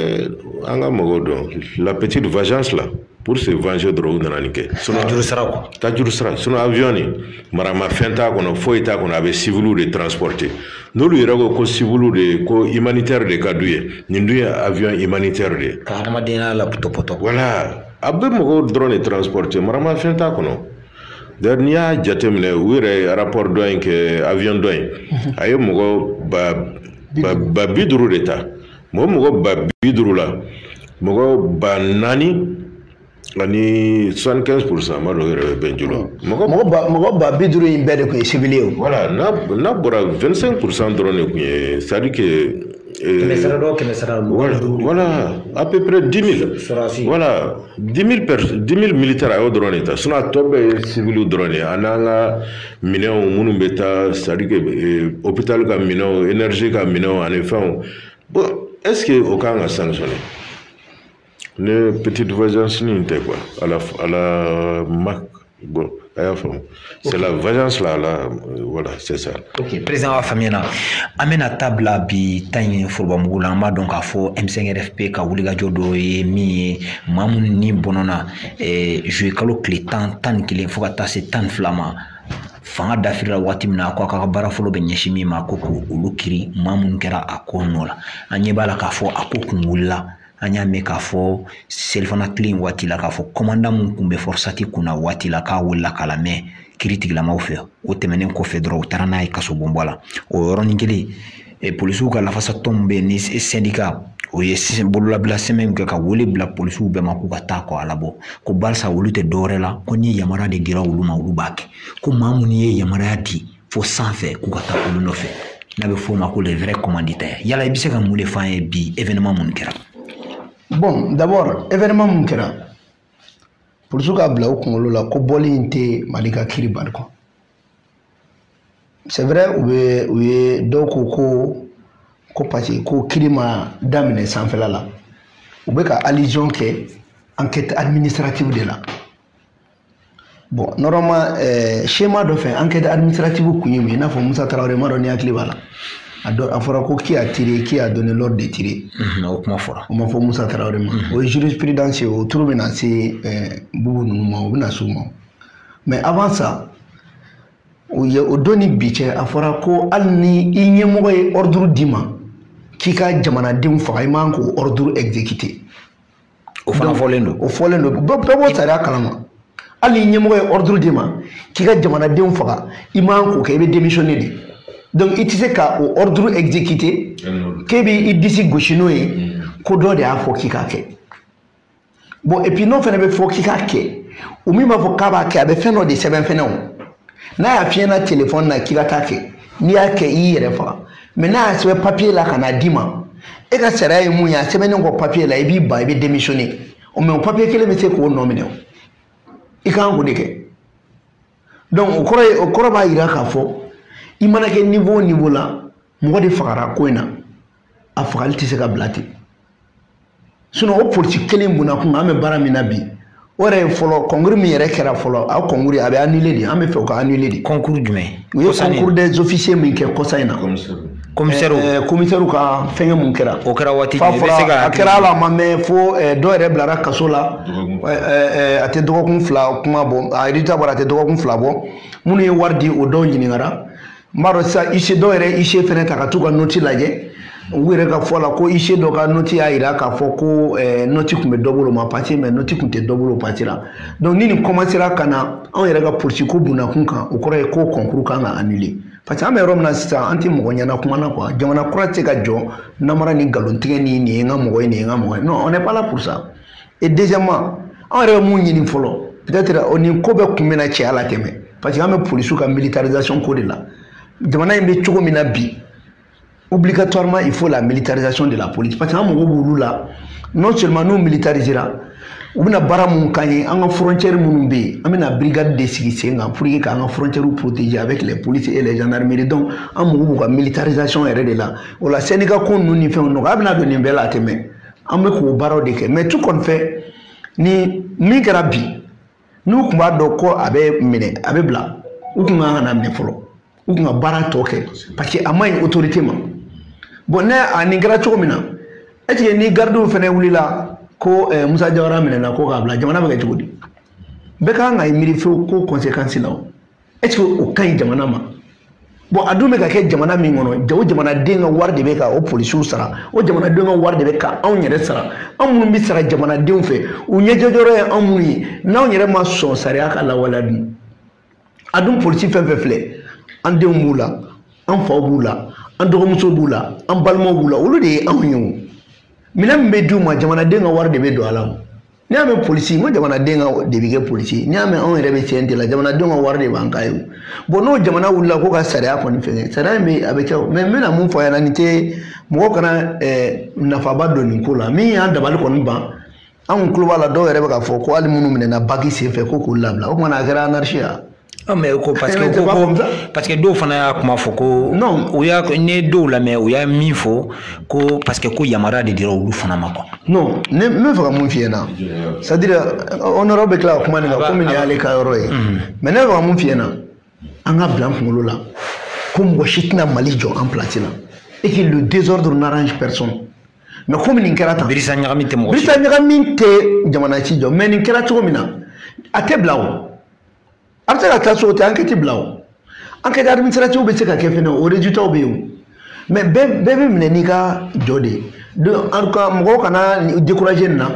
an ka mɔgɔw dɔn la petite vengeance la pour se venger dɔrɔn u nana nin kɛ tajurusara quoi tajurusara sinon avion nin maramafɛn t'a kɔnɔ foyi t'a kɔnɔ a bɛ civiliw de transporter n'olu yɛrɛ ko ko civiliw de ko humanitaire de ka d'u ye nin dun ye avion humanitaire de ye ka hadamadenya la pɔtɔpɔtɔ voilà a bɛ mɔgɔw dɔrɔn de transporte maramafɛn t'a kɔnɔ d'ailleurs n'i y'a jateminɛ u yɛrɛ ye rapport dɔ in kɛ avion dɔ in mhm. a ye mɔgɔ ba ba ba bi duuru de ta mɔgɔ mɔgɔ ba bi duuru la mɔgɔ ba naani ani soixante quinze pour cent ma dɔw yɛrɛ bɛ bɛnjo la mɔgɔ mɔgɔ ba mɔgɔ ba bi duuru in bɛɛ de tun ye civil ye o voilà n'a n'a bɔra vingt cinq pour cent dɔrɔn de tun ye c'est à dire que kɛmɛ sara dɔ kɛmɛ sara voilà voilà à peu près 10000 sɔrɔdasi voilà 10000 personnes 10000 militaires a y'o dɔrɔn de ta sinon a tɔ bɛɛ ye civiliw dɔrɔn de ye a n'an ka minɛnw minnu bɛ taa c'est à dire que euh, hôpital ka minɛnw énergie ka minɛnw ani fɛnw bon est ce que o kan ka sanctionner ne petite vengeance nin tɛ quoi à la à la marque bon a y'a faamu c'est la vengeance là là euh, voilà c'est ça ok président a faamuyana an bɛna taa bila bi ta in forobamugu la an b'a dɔn k'a fɔ m5rfp ka wulikajɔ dɔ ye min ye maa minnu ni bɔnɔna eh, juillet kalo tile tan tan ni kelen fo ka taa se tan ni fila ma fanga dafirila waati min na ko a ka baara fɔlɔ bɛ ɲɛsin min ma ko k'olu kiri maa minnu kɛra a ko nɔ la an ɲɛ b'a la k'a fɔ a ko kun wulila an y'a mɛn k'a fɔ selifana tile in waati la k'a fɔ kɔmandan mun tun bɛ fɔrɔsati kunna waati la k'a welela k'a lamɛn kiri tigilamaw fɛ o tɛmɛnen kɔfɛ dɔrɔn u taara n'a ye kasobonba la o yɔrɔnin kelen e, polisiw ka lafasatɔn min bɛ yen ni syndicat o ye bololabila sɛbɛn kɛ ka wele bila polisiw bɛɛ ma k'u ka taa kɔ a labɔ ko barisa olu tɛ dɔwɛrɛ la ko ni yamaruya de dira olu ma olu b'a kɛ ko maa minnu ye yamaruya di fo sanfɛ k'u ka taa olu nɔfɛ n'a bɛ f'o ma ko les vrais commanditaires yala i bɛ se ka mun de f'an ye bi événement mun kɛra bon d'abord événement mun kɛra polisiw k'a bila u kunkolo la ko bɔli in tɛ Mali ka kiri bali quoi c'est vrai u bɛ u ye dɔw ko ko ko parce que ko kiri ma daminɛ sanfɛla la u bɛ ka allusion kɛ enquête administrative de la bon normalement eh, schéma dɔ fɛ enquête administrative kun ye mun ye i n'a fɔ Musa Tarawele m'a dɔn n'i hakili b'a la a dɔ a fɔra ko qui a tiré qui a donné l'ordre de tirer Mhm, o kuma fɔra o ma fɔ Musa Tarawele ma o ye jurisprudence ye o tour bɛna se eh, Bubu ninnu ma o bɛna s'u ma mais avant ça o ye o don ni bi cɛ a fɔra ko hali ni i ɲɛmɔgɔ ye ordre d'i ma k'i ka jamanadenw faga i man k'o ordre exécuter o fana fɔlen don o fɔlen don bɛɛ b'o sariya kalama hali n'i ɲɛmɔgɔ ye ordre d'i ma k'i ka jamanadenw faga i man k'o kɛ i bɛ démissionner de donc i tɛ se ka o ordre exécuter k'e bɛ i disi gosi n'o ye mm. ko dɔ de y'a fɔ k'i k'a kɛ bon et puis n'o fana bɛ fɔ k'i k'a kɛ o min b'a fɔ k'a b'a kɛ a bɛ fɛn dɔ de sɛbɛn fɛnɛ o n'a y'a f'i ɲɛna telefɔni na k'i ka t'a kɛ n'i y'a kɛ i y'i yɛrɛ faga mais n'a y'a sɛbɛn papiye la ka n'a d'i ma e ka sariya ye mun ye a sɛbɛnnen kɔ papiye la i b'i ban i bɛ démissionner mais o papiye kelen bɛ se k'o nɔ minɛ o i kan k'o de kɛ donc o kɔrɔ ye o kɔrɔ b'a yira k'a fɔ i mana kɛ niveau o niveau la mɔgɔ de fagara ko in na a fagali tɛ se ka bila ten o politiki kelen bunna kun an bɛ baara min na bi o yɛrɛ ye fɔlɔ kɔnkuru min yɛrɛ kɛra fɔlɔ a kɔnkuru a bɛ anule de an bɛ fɛ o ka anule de kɔnkuru jumɛn u ye kɔnkuru des officiers min kɛ kɔsa in na komisɛriw komisɛriw ka fɛngɛ mun kɛra o kɛra waati jumɛn i bɛ se ka a kɛra ala ma mɛn fo dɔw yɛrɛ bilara kaso la a tɛ dɔgɔkun fila kuma bɔ a rezilita bɔra a tɛ dɔgɔkun fila bɔ minnu ye wari di o dɔw ɲininkara n b'a dɔn sisan huissier dɔw yɛrɛ huissier fɛnɛ ta ka t'u ka noti lajɛ u yɛrɛ ka fɔ la ko huissier dɔ ka noti y'a yira k'a fɔ ko eh, noti tun bɛ dɔ bolo ma pase mais noti tun tɛ dɔ bolo pasela donc ni nin kɔmansera ka na anw yɛrɛ ka politiki ko bundakun kan o kɔrɔ ye ko kɔnkuru kan ka anule parce que an bɛ yɔrɔ min na sisan an tɛ mɔgɔ ɲɛna kuma na quoi jamana kura tɛ se ka jɔ namara ni nkalontigɛ ni nin ye n ka mɔgɔ ye nin ye n ka mɔgɔ ye non on n'est pas là pour ça et deuxièmement anw yɛrɛ bɛ mun ɲini fɔlɔ peut-être o nin ko bɛɛ kun bɛna cɛ a la tɛmɛ parce que an bɛ polisiw ka militarisation ko de la jamana in bɛ cogo min na bi obligatoirement il faut la militarisation de la police parce que an mago b'olu la non seulement n'u militarisera u bɛna baara mun k'an ye an ka frontière minnu bɛ yen an bɛna brigade de sigi sen kan pour que k'an ka frontière protéger avec les polices et les gendarmeries donc an mago b'u ka militarisation yɛrɛ de la o la syndicat ko ninnu ni fɛnw nɔgɔya bɛna don nin bɛɛ la a tɛ mɛn an bɛ k'o baaraw de kɛ mais tout compte fait nin min kɛra bi n'u tun b'a dɔn ko a bɛ minɛ a bɛ bila u tun kan kana minɛ fɔlɔ u tun ka baara tɔ kɛ parce que a man ɲi otorite ma bon ne a nin kɛra cogo min na est-ce que ni garidiw fana wulila ko eh, musa jawara minɛna ko k'a bila jamana bɛ kɛ cogo di bɛɛ kan ka i miiri fewu ko kɔnsekansi la o est-ce que o ka ɲi jamana ma bon a dun bɛ ka kɛ jamana min kɔnɔ o jamanaden ka wari de bɛ ka o polisiw sara o jamanadenw ka wari de bɛ ka anw yɛrɛ sara anw minnu bɛ sara jamanadenw fɛ u ɲɛjɔyɔrɔ ye anw minnu ye n'anw yɛrɛ ma sɔn sariya ka lawaleya dun a dun polisi fɛn fɛn filɛ an denw b'u la an faw b'u la an dɔgɔmuso b'u la an balimaw b'u la olu de ye anw ye o minɛn min bɛ d'u ma jamanaden ka wari de bɛ don a la o n'i y'a mɛn polisi n ko jamanaden ka de bɛ kɛ polisi ye n'i y'a mɛn anw yɛrɛ bɛ CNT la jamanadenw ka wari de b'an ka ye bon n'o jamana wulila ko ka sariya kɔni fɛngɛ sariya in bɛ a bɛ kɛ o mais n bɛna mun fɔ a ɲɛna nin tɛ mɔgɔ kana eh, nafaba don nin ko la min y'an dabali kɔni ban anw tulo b'a la dɔw yɛrɛ bɛ k'a fɔ ko hali minnu minɛna baki senfɛ ko k'u labila o tuma na a kɛra anarisi ye Ah, mais ko parce que ko ko parce que dɔw fana y'a kuma fɔ ko non u y'a ne dɔw lamɛn u y'a min fɔ ko parce que ko yamaruya de dira olu fana ma quoi non ne n bɛ fɛ ka mun f'i ɲɛna c'est à dire honorable bɛ tila ka kuma nin kan komi nin y'ale ka yɔrɔ ye mais ne bɛ fɛ ka mun f'i ɲɛna an k'a bila an kunkolo la ko mɔgɔ si tɛna mali jɔ an place la et que le désordre n'arrange personne mais komi nin kɛra tan birisa ɲagami tɛ mɔgɔ si birisa ɲagami tɛ jamana si jɔ mais nin kɛra cogo min na a tɛ bila o a bɛ se ka taa so o tɛ ankɛti bila o ankɛti adiminisitiratiw bɛ se ka kɛ fɛnɛ o rezitaw bɛ yen o mais bɛɛ bɛ minɛ n'i ka jɔ de ye donc en tout cas mɔgɔw kana décourager nin na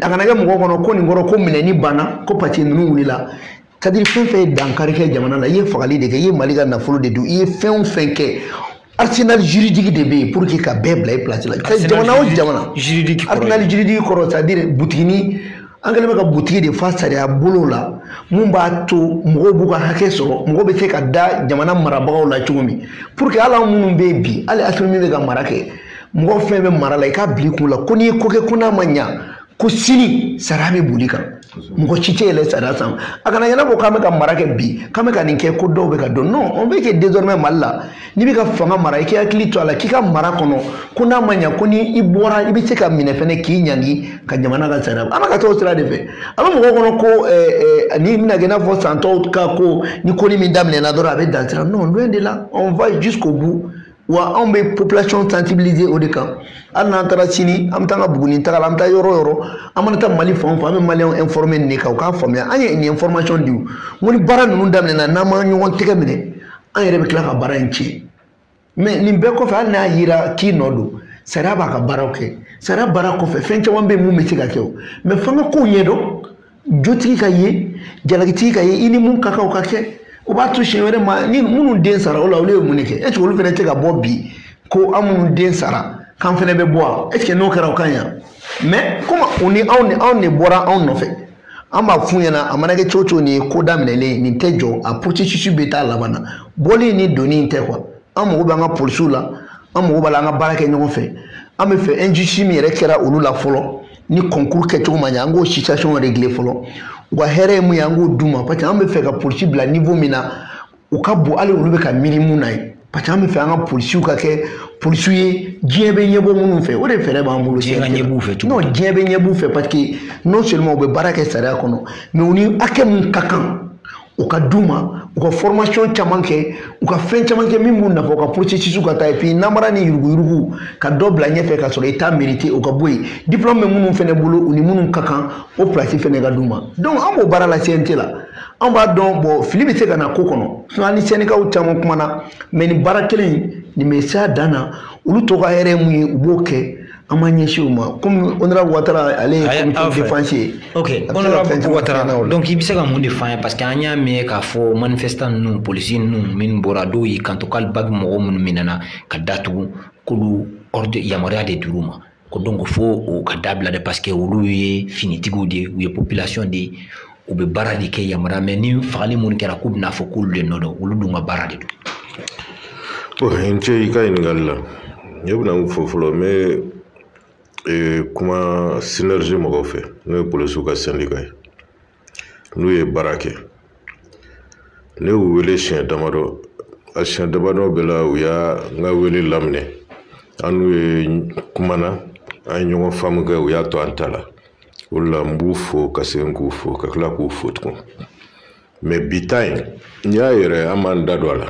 a kana kɛ mɔgɔw kɔnɔ ko nin kɔrɔ ko minɛni banna ko parce que ninnu wulila c'est à dire fɛn fɛn ye dankari kɛ jamana la i ye fagali de kɛ i ye mali ka nafolo de dun i ye fɛn o fɛn kɛ arsenal juridique de bɛ yen pour que ka bɛɛ bila i place la jamana o jamana arsenal juridique kɔrɔ c'est à dire butigini an kɛlen bɛ ka butigi de fa sariya bolow la mun b'a to mɔgɔw b'u ka hakɛ sɔrɔ mɔgɔ bɛ se ka da jamana marabagaw la cogo min pour que hali an minnu bɛ yen bi hali asimi min bɛ ka mara kɛ mɔgɔ fɛn bɛ mara la i k'a bila i kun la ko n'i ye ko kɛ ko n'a ma ɲa ko sini sariya bɛ boli i kan mɔgɔ si tɛ yɛlɛ sariya sanfɛ a kana ɲɛna ko k'an bɛ ka mara kɛ bi k'an bɛ ka nin kɛ ko dɔw bɛ ka dɔn non on veut que désormais mali la n'i bɛ ka fanga mara i k'i hakili to a la k'i ka mara kɔnɔ ko n'a ma ɲa ko ni i bɔra i bɛ se ka minɛ fɛnɛ k'i ɲangi ka jamana ka sariya an bɛ ka taa o sira de fɛ a bɛ mɔgɔw kɔnɔ ko eh, eh, nin bɛna kɛ i n'a fɔ san tɔw ka ko ni ko ni min daminɛna dɔrɔn a bɛ dan sira non loin de là on va jusqu'au bout wa anw bɛ population sensibiliser o de kan hali n'an taara sini an bɛ taa an ka buguni taga la an bɛ taa yɔrɔ o yɔrɔ an mana taa mali fan o fan an bɛ maliyɛnw informer nin de kan u k'a faamuya an ye nin information di u ko ni baara ninnu daminɛna n'an ma ɲɔgɔn tɛgɛ minɛ an yɛrɛ bɛ tila ka baara in tiɲɛ mais nin bɛɛ kɔfɛ hali n'a yira k'i nɔ don sariya b'a ka baaraw kɛ sariya baara kɔfɛ fɛn caman bɛ yen mun bɛ se ka kɛ o mais f'an ka kow ɲɛdɔn jotigi ka ye jalakitigi ka ye i ni mun ka kan o ka kɛ o b'a to siɲɛ wɛrɛ ma ni minnu den sara o la olu ye mun de kɛ est ce que olu fana tɛ ka bɔ bi ko an minnu den sara k'an fana bɛ bɔ wa est ce que n'o kɛra o ka ɲi yan mais komi u ni anw de anw de bɔra anw nɔfɛ an b'a f'u ɲɛna a mana kɛ cogo o cogo nin ye ko daminɛlen nin tɛ jɔ a processus bɛ taa laban na bɔli ni donni in tɛ quoi an mago bɛ an ka polisiw la an mago b'a la an ka baara kɛ ɲɔgɔn fɛ an bɛ fɛ injustice min yɛrɛ kɛra olu la fɔlɔ ni kɔnkuru kɛcogo ma ɲɛ an k'o situation régler fɔlɔ u ka hɛrɛ ye mun ye an k'o d'u ma parce que an bɛ fɛ ka polisi bila niveau min na u ka bon hali olu bɛ ka miiri mun na ye parce que an bɛ fɛ an ka polisiw ka kɛ polisiw ye diɲɛ bɛ ɲɛbɔ minnu fɛ o de fɛɛrɛ b'an bolo diɲɛ ka ɲɛ b'u fɛ cogo non diɲɛ bɛ ɲɛ b'u fɛ parce que non seulement u bɛ baara kɛ sariya kɔnɔ mais u ni hakɛ mun ka kan o ka d'u ma u ka formation caman kɛ u ka fɛn caman kɛ min b'u nafa u ka processus ka taa epi namara ni yuruguyurugu ka dɔ bila ɲɛfɛ ka sɔrɔ i t'a mériter o ka bɔ yen diplôme bɛ minnu fɛnɛ bolo u ni minnu ka kan o plasi fɛnɛ ka d'u ma donc an b'o baara la cnt la an b'a dɔn bon fili bɛ se ka na ko kɔnɔ an ni sɛndikaw caman kumana mais nin baara kelen nin bɛ s'a dan na olu tɔw ka hɛrɛ mun ye u b'o kɛ an ma ɲɛsin o ma komi honorable watara ale ye comité défense ye ok honorable watara donc i bɛ se ka mun de f'an ye parce que an y'a mɛn k'a fɔ manifestant ninnu polisi ninnu minnu bɔra dɔw y'i kanto k'ale ba bɛ mɔgɔ minnu minɛna ka datugu k'olu ordre yamaruya de dir'u ma ko donc fo o ka dabila de parce que olu ye finitigiw de ye u ye population de ye u bɛ baara de kɛ yamaruya mais ni fagali minnu kɛra k'u bɛna fɔ k'olu de nɔ don olu dun ka baara de don n cɛ i ka ɲininkali la ne bɛna min fɔ fɔlɔ n bɛ kuma synergie mɔgɔw fɛ n'o ye polisiw ka sɛndika ye n'u ye baara kɛ ne y'u wele siɲɛ damadɔ a siɲɛ damadɔ bɛɛ la u y'an ka wele laminɛ an n'u ye kumana an ye ɲɔgɔn faamu kɛ u y'a to an ta la o de la n b'u fo ka segin k'u fo ka tila k'u fo tugun mais bi ta in n y'a yɛrɛ an m'an da don a la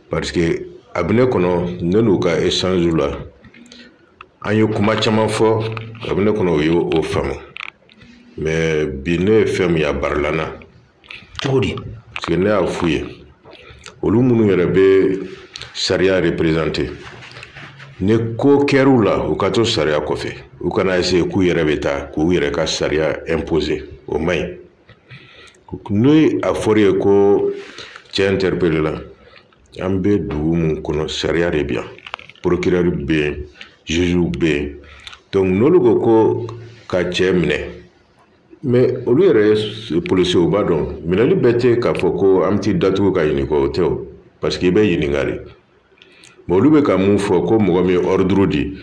parce que a bɛ ne kɔnɔ ne n'u ka échange la an ye kuma caman fɔ a bɛ ne kɔnɔ u ye o faamu mais bi ne ye fɛn min ye a barila n na cogo di parce que ne y'a f'u ye olu minnu yɛrɛ bɛ sariya représenter ni ko kɛr'u la u ka to sariya kɔfɛ u kana essayer k'u yɛrɛ bɛ taa k'u yɛrɛ ka sariya imposer o man ɲi ni a fɔra i ye ko cɛ interpellé la an bɛ dugu min kɔnɔ sariya de bɛ yan procureur bɛ yen juge bɛ yen donc n'olu ko ko ka cɛ minɛ mais olu yɛrɛ polisiw b'a dɔn minɛli bɛɛ tɛ k'a fɔ ko an bɛ t'i datugu ka ɲininka o tɛ o parce que i bɛ ɲininka de mais olu bɛ ka mun fɔ ko mɔgɔ min ye ordre di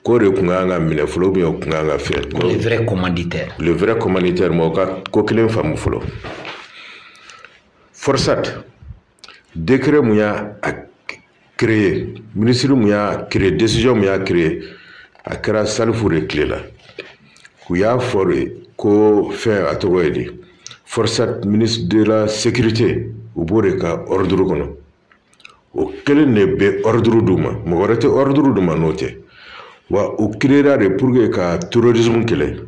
k'o de tun kan ka minɛ fɔlɔ ou bien o tun kan ka fɛn le vrai commanditaire le vrai commanditaire mɔgɔ ka ko kelen faamu fɔlɔ forsat décret mun y'a créé minisiri mun y'a créé décision mun y'a créé a kɛra salifu de tile la u y'a fɔ de ko fɛn a tɔgɔ ye di forsat ministre de la sécurité u b'o de ka ordre kɔnɔ o kelen de bɛ ordre d'u ma mɔgɔ wɛrɛ tɛ ordre d'u ma n'o tɛ wa u créera de pour que ka terrorisme kɛlɛ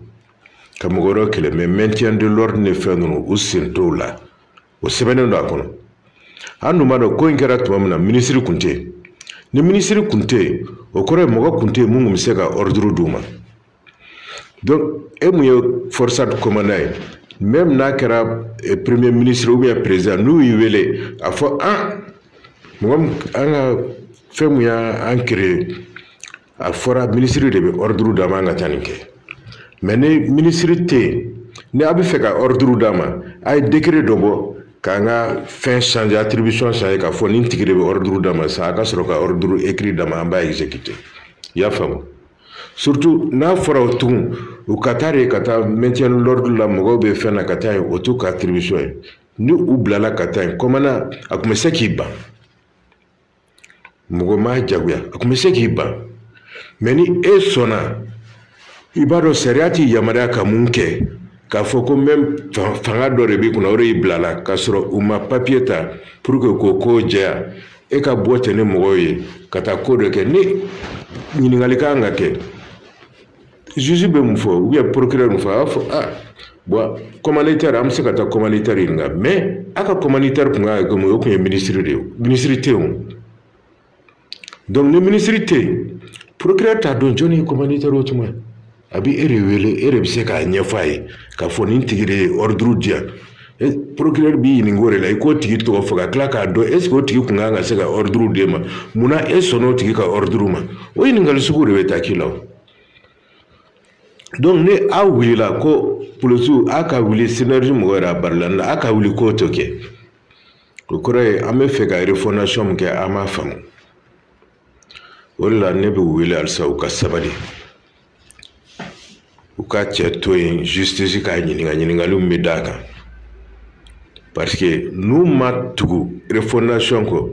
ka mɔgɔ wɛrɛ kɛlɛ mais maintien de l'ordre ni fɛn ninnu u sen t'o la o sɛbɛnnen don a kɔnɔ an dun b'a dɔn ko in kɛra tuma min na minisiri kun tɛ yen ni minisiri kun tɛ yen o kɔrɔ ye mɔgɔ kun tɛ yen mun kun bɛ se ka ordre d'u ma donc e mun ye forsat commandant ye même n'a kɛra eh, premier ministre ou bien président n'u y'i wele a fɔ an mɔgɔ min an ka fɛn mun y'an créé a fɔra minisiri de bɛ ordre d'an ma ka taa nin kɛ mais ni minisiri tɛ yen ni a b'a fɛ ka ordre d'an ma a ye décret dɔ bɔ k'an ka fɛn changer attribution changer k'a fɔ nin tigi de bɛ ordre d'an ma sa a ka sɔrɔ ka ordre écrit d'an ma an b'a exécuter i y'a faamu surtout n'a fɔra o tugun u ka taa de ka taa maintien de l'ordre la mɔgɔw bɛ fɛn na ka taa yen o t'u ka attribution ye ni u bilala ka taa yen commandant a tun bɛ se k'i ban mɔgɔ m'a jagoya a tun bɛ se k'i ban mais ni e sɔnna i b'a dɔn sariya t'i yamaruya ka mun kɛ k'a fɔ ko même fanga dɔ de b'i kunna o de y'i bila la k'a sɔrɔ u ma papiye ta pour que k'o ko jɛya e ka bɔ ten ni mɔgɔw ye ka taa ko dɔ kɛ ni ɲininkali kan ka kɛ juge bɛ mun fɔ ou bien procureur mun fɔ a b'a fɔ ah bon commanditaire an bɛ se ka taa commanditaire ɲininka mais a ka commanditaire tun ka kɛ mun ye o tun ye ministre de ye ministre tɛ yen o donc ni ministre tɛ yen procureur t'a dɔn jɔni ye commanditaire o tuma a bɛ e de wele e de bɛ se k'a ɲɛfɔ a ye k'a fɔ nin tigi de ye ordre di yan procureur b'i ɲininka o de la i k'o tigi tɔgɔ fɔ ka tila k'a dɔn est ce que o tigi tun ka kan ka se ka ordre d'e ma mun na e sɔnna o tigi ka ordre ma o ɲininkali sugu de bɛ taa k'i la o. donc ni aw wulila ko polisiw a ka wuli synergie mɔgɔ yɛrɛ a barila na a ka wuli k'o to kɛ o kɔrɔ ye an b'a fɛ ka refondation min kɛ an m'a faamu o de la ne b'u wele halisa u ka sabali u ka cɛ to yen justice k'a ɲininka ɲininkaliw bɛ d'a kan parce que n'u ma tugu refondation kɔ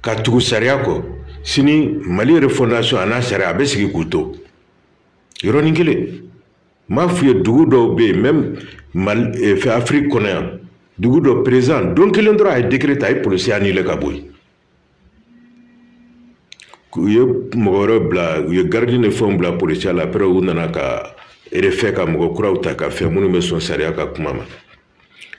ka tugu sariya kɔ sini mali refondation a n'a sariya a bɛ sigi k'u to yɔrɔnin kelen n b'a f'u ye dugu dɔw bɛ yen même mali eh, fɛ afiriki kɔnɔ yan dugu dɔ perezan don kelen dɔrɔn a ye décret ta a ye polisiya annulé ka bɔ yen u ye mɔgɔ wɛrɛ bila u ye garidi ni fɛnw bila polisiya la après u nana ka refait ka mɔgɔ kuraw ta ka fɛn minnu bɛ sɔn sariya ka kuma ma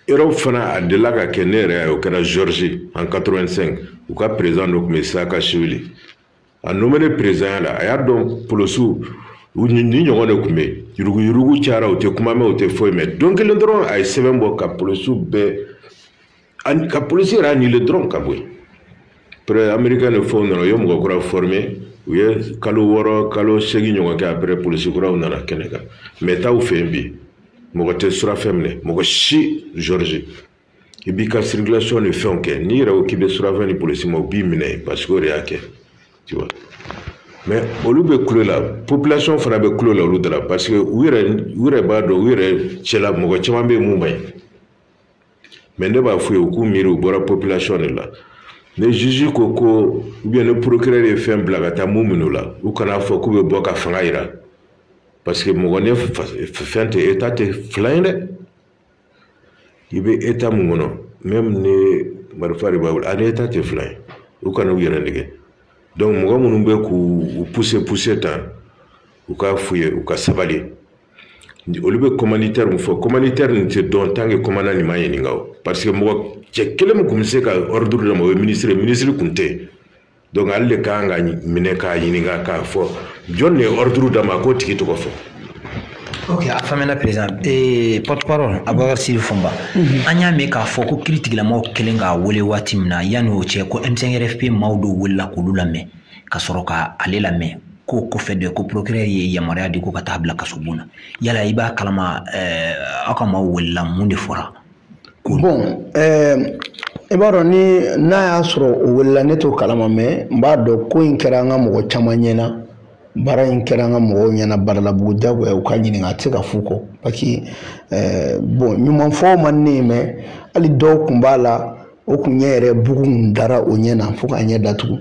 erɔpu fana a delila ka kɛ ne yɛrɛ o kɛra georgie en 85 u ka perezan dɔ tun bɛ saakashvili a nomelen perezanya la a y'a dɔn polisiw ni ɲɔgɔn de tun bɛ yen yuruguyurugu cayara u tɛ kuma mɛn u tɛ foyi mɛn don kelen dɔrɔn a ye sɛbɛn bɔ ka polisiw bɛɛ ani ka polisi yɛrɛ annulé dɔrɔn ka bɔ yen après ameriken ni fɛnw nana u ye mɔgɔ kura formé u ye kalo wɔɔrɔ kalo segin ɲɔgɔn kɛ après polisi kuraw nana kɛnɛ kan mais taa u fɛ yen bi mɔgɔ tɛ surafɛn minɛ mɔgɔ si georgie i b'i ka circulation ni fɛnw kɛ n'i yɛrɛ ko k'i bɛ surafɛn di polisi ma u b'i minɛ parce que o de y'a kɛ tu vois mais olu bɛ kulo la population fana bɛ kulo la olu da la parce que u yɛrɛ u yɛrɛ b'a dɔn u yɛrɛ cɛla mɔgɔ caman bɛ yen mun man ɲi mais ne b'a f'u ye u k'u miiri u bɔra population de la ni juge ko ko ou bien ni procureur ye fɛn bila ka taa mun minɛ u la u kana fɔ k'u bɛ bɔ ka fanga jira parce que mɔgɔ ni fɛn tɛ etat tɛ fila ye dɛ. i bɛ état mun kɔnɔ même ni marifa de b'a bolo ani état tɛ fila ye u kana u yɛrɛ nɛgɛn donc mɔgɔ minnu bɛ k'u pousser pousser tan u k'a f'u ye u ka sabali olu bɛ commanditaire min fɔ commanditaire nin tɛ dɔn tant que commandant nin ma ɲininka o parce que mɔgɔ cɛ kelen min tun bɛ se ka ordre d'a ma o ye minisiri ye minisiri tun tɛ donc ale de kan ka minɛ k'a ɲininka k'a fɔ jɔn de ye ordre d'a ma k'o tigi tɔgɔ fɔ ok a faamuyana président ee porte parole abubakar sidi fɔnba an y'a mɛn k'a fɔ ko kiri tigilamɔgɔw kɛlen k'a wele waati min na yanni o cɛ ko m5rfp maaw dɔw welela k'olu lamɛn ka sɔrɔ ka ale lamɛn k'o kɔfɛ de ko procureur ye yamaruya di ko ka taa bila kasobon na yala i b'a kalama aw ka maaw welela mun de fɔra Bon ɛɛ i b'a dɔn ni n'a y'a sɔrɔ o welela ne t'o kalama mais n b'a dɔn ko in kɛra an ka mɔgɔ caman ɲɛna baara in kɛra an ka mɔgɔw ɲɛna Badalabugu jagoya u ka ɲininka a tɛ se ka f'u kɔ parce que ɛɛ bon ɲumanfɔ man ne ye mais hali dɔw kun b'a la o kun ɲɛ yɛrɛ bugu kun dara o ɲɛ na fo k'a ɲɛ datugu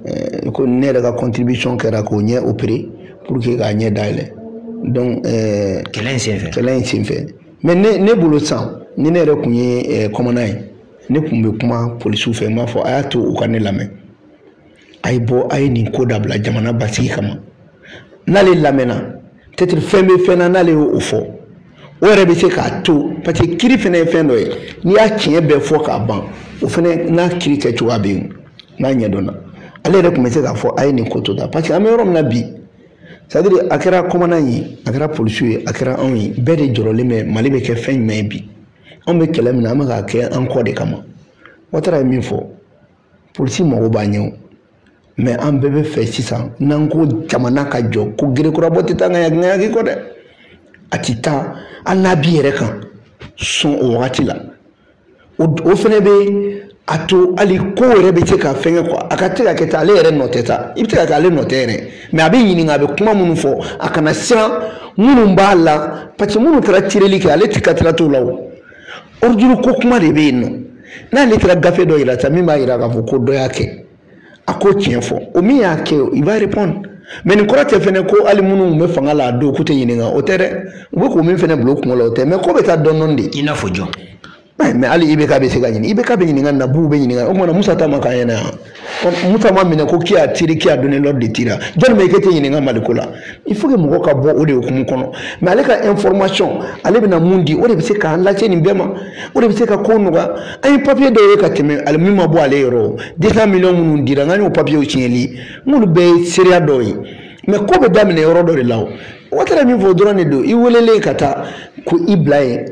ɛɛ ko ne yɛrɛ ka contribution kɛra k'o ɲɛ opérer pour que k'a ɲɛ dayɛlɛ donc ɛɛ kɛlɛ in senfɛ kɛlɛ in senfɛ mais ne ne bolo san ni ne yɛrɛ kun ye eh, commandant ye ne kun bɛ kuma polisiw fɛ n b'a fɔ a y'a to u ka ne lamɛn a ye bɔ a ye nin ko dabila jamana basigi kama n'ale lamɛnna peut-être fɛn bɛ fɛn na n'ale y'o fɔ o yɛrɛ bɛ se k'a to parce que kiri fana ye fɛn dɔ ye n'i y'a tiɲɛ bɛɛ fɔ k'a ban o fana n'a kiri kɛ cogoya bɛ yen n'a ɲɛdɔnna ale yɛrɛ tun bɛ se k'a fɔ a ye nin ko to da parce que an bɛ yɔrɔ min na bi c'est-à-dire a kɛra commandant ye a kɛra polisiw ye a kɛra anw ye bɛɛ de jɔrɔlen bɛ mali bɛ kɛ fɛn jumɛn ye bi anw bɛ kɛlɛ min na an bɛ k'a kɛ an kɔ de kama watara ye min fɔ polisi mago b'a ɲɛ o mais an bɛɛ bɛ fɛ sisan n'an ko jamana ka jɔ ko gerekurabɔ tɛ taa ŋaya ŋayaki kɔ dɛ a ti taa hali n'a b'i yɛrɛ kan sɔn o wagati la o fana bɛ a to hali ko yɛrɛ bɛ se ka fɛngɛ quoi a ka se ka kɛ tan ale yɛrɛ nɔ tɛ sa i bɛ se ka kɛ ale nɔ tɛ yɛrɛ mais a bɛ ɲininka a bɛ kuma minnu fɔ a kana siran minnu b'a la parce que minnu taara tireli kɛ ale tɛ ka tila t'o la o ordre ko kuma de bɛ yen nɔ n'ale taara gafe dɔ yira sa min b'a yira k'a fɔ ko dɔ y'a kɛ a ko tiɲɛ fɔ o min y'a kɛ il va répondre mais nin kɔrɔ tɛ fɛnɛ ko hali minnu tun bɛ fanga la a don k'u tɛ ɲininka o tɛ dɛ u bɛ k'o min fɛnɛ bila u kunko la o tɛ mais ko bɛ taa dɔɔni dɔɔni de i n'a fɔ jɔn mais hali IBK bɛ se ka ɲininka IBK bɛ ɲininka nabuw bɛ ɲininka o kuma na musa ta ma k'an ɲɛna yan musa ma minɛ ko qui a tiré qui a donné l'ordre de tirer jɔni bɛ i k'e tɛ ɲininka mali ko la il faut que mɔgɔ ka bɔ o de hukumu kɔnɔ mais ale ka information ale bɛna mun di o de bɛ se k'an lase nin bɛɛ ma o de bɛ se ka ko nɔgɔya an ye papiye dɔw ye ka tɛmɛ ali min ma bɔ ale yɔrɔ deux cents millions minnu dira an ka y'o papiyew siɲɛli n k'olu bɛɛ ye seereya dɔw ye mais ko bɛ daminɛ yɔrɔ dɔ de la o watara min fɔ dɔrɔn de don i welelen ka taa ko i bila yen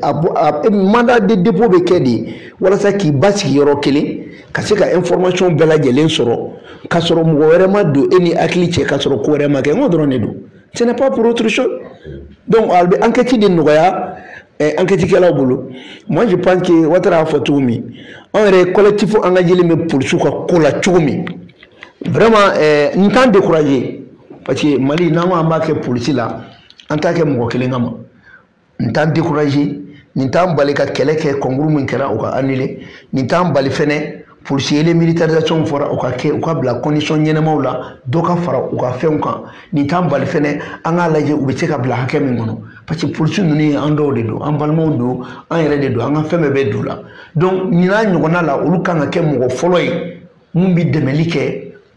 mandat de dépôt bɛ kɛ de walasa k'i basigi yɔrɔ kelen ka se ka information bɛɛ lajɛlen sɔrɔ k'a sɔrɔ mɔgɔ wɛrɛ ma don e ni hakili cɛ k'a sɔrɔ ko wɛrɛ ma kɛ n ko dɔrɔn de don ce n'est pas pour autre chose donc a bɛ enquête de nɔgɔya eh, enquête kɛlaw bolo moi je pense que watara y'a fɔ cogo min an yɛrɛ collectif engagélen bɛ polisiw ka ko la cogo min vraiment eh, n t'an décourager parce que mali n'an ko an b'a kɛ polisi la an t'a kɛ mɔgɔ kelen kama n t'an décourager nin t'an bali ka kɛlɛ kɛ concours min kɛra o ka annuler nin t'an bali fɛnɛ policier le militarisation fɔra o ka kɛ u ka bila condition ɲɛnamaw la dɔ ka fara u ka fɛnw kan nin t'an bali fɛnɛ an k'a lajɛ u bɛ se ka bila hakɛ min kɔnɔ parce que polisi ninnu ye an dɔw de don an balimaw don an yɛrɛ de don an ka fɛn bɛɛ bɛ don la donc nin n'a ɲɔgɔnna la olu kan ka kɛ mɔgɔ fɔlɔ ye mun bɛ dɛmɛli kɛ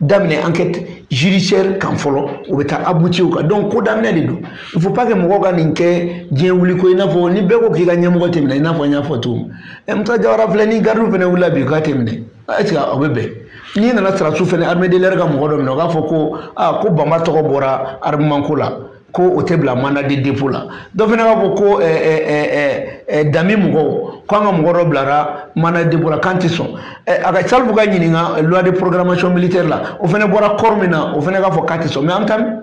daminɛ enquête judiciaire kan fɔlɔ o bɛ taa aboutir o kan donc ko daminɛ de don il faut pas que mɔgɔw ka nin kɛ diɲɛ wuli ko i n'a fɔ ni bɛɛ ko k'i ka ɲɛmɔgɔ tɛ minɛ i n'a fɔ n y'a fɔ cogo min ɛ musa jawara filɛ ni gardiw fana wulila bi k'a tɛ minɛ est ce que o bɛ bɛn n'i nana sarasu fana armée de l'air ka mɔgɔ dɔ minɛ o k'a fɔ ko aa ko banba tɔgɔ bɔra armement ko la ko o tɛ bila mandat de dépôt la dɔ fana b'a fɔ ko dami mɔgɔw ko an ka mɔgɔ dɔ bilara mandat de dépôt la k'an tɛ sɔn a ka salifu ka ɲininka loi de programmation militaire la o fana bɔra corps min na o fana k'a fɔ k'a tɛ sɔn mais an bɛ taa min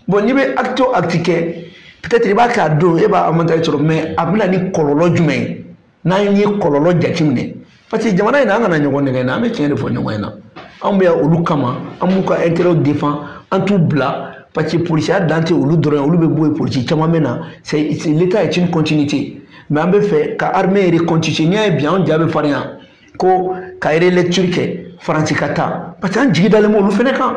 bon n'i bɛ acte o acte kɛ peut-être i b'a kɛ a don e b'a avantage sɔrɔ mais a bɛ na ni kɔlɔlɔ jumɛn ye n'an ye kɔlɔlɔ jateminɛ parce que jamana in na an kana ɲɔgɔn nɛgɛn an bɛ tiɲɛ de fɔ ɲɔgɔn ɲɛna anw bɛ yan olu kama an b'u ka intérêt défend an t'u bila parce que polisiya dan tɛ olu dɔrɔn ye olu bɛ bɔ yen polisi caman bɛ na c'est l'état est une continuité mais an bɛ fɛ ka armée yɛrɛ continuer n'i y'a ye bi anw ja bɛ farinya ko ka relecture kɛ faransi ka taa parce que an jigi dalen bɛ olu fana kan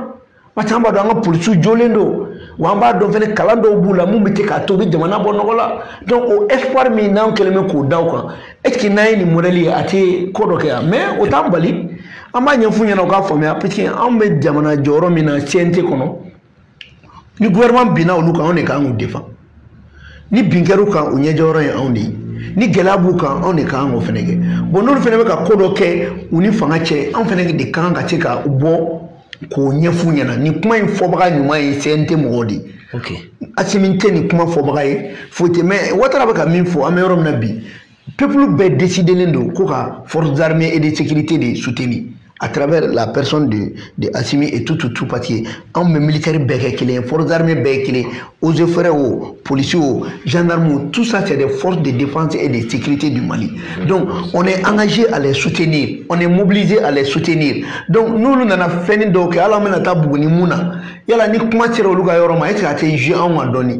parce que an b'a dɔn an ka polisiw jɔlen don wa an b'a dɔn fɛnɛ kalan dɔw b'u la min bɛ kɛ k'a to u bɛ jamana bɔ nɔgɔ la donc o espoir min n'an kɛlen bɛ k'o da u kan est ce que n'an ye nin modèle ye a tɛ ko dɔ kɛ yan mais o t'an bali an b'a ɲɛf'u ɲɛna u k'a faamuya parce que anw bɛ jamana jɔyɔrɔ min na CNT kɔnɔ ni gouvernement binna olu kan anw de kan k'u défend. ni bin kɛr'u kan u ɲɛjɔyɔrɔ ye anw de ye ni gɛlɛya b'u kan anw de ka kan k'o fɛnɛ kɛ bon n'olu fɛnɛ bɛ ka ko dɔ kɛ u ni fanga cɛ anw fɛnɛ de ka kan ka se ka bɔ k'o ɲɛf'u ɲɛna nin kuma in fɔbaga ɲuman ye CNT mɔgɔw de ye asimi tɛ nin kuma fɔbaga ye foyi tɛ mais watara bɛ ka min fɔ an bɛ yɔrɔ min na bi peuple bɛɛ décidelen don ko ka forces armées et de sécurité de soutenir à travers la personne de, de Assimi et tout, tout, tout, parce que on me militaire béquelé, forces armées béquelé, aux frères, policiers, gendarmes, tout ça, c'est des forces de défense et de sécurité du Mali. Donc, on est engagé à les soutenir, on est mobilisé à les soutenir. Donc, nous, nous avons fait une doc, alors on a tabou, ni mouna. Yala ni kuma sera olu ka yɔrɔ ma est ce que a tɛ jeu anw ma dɔɔni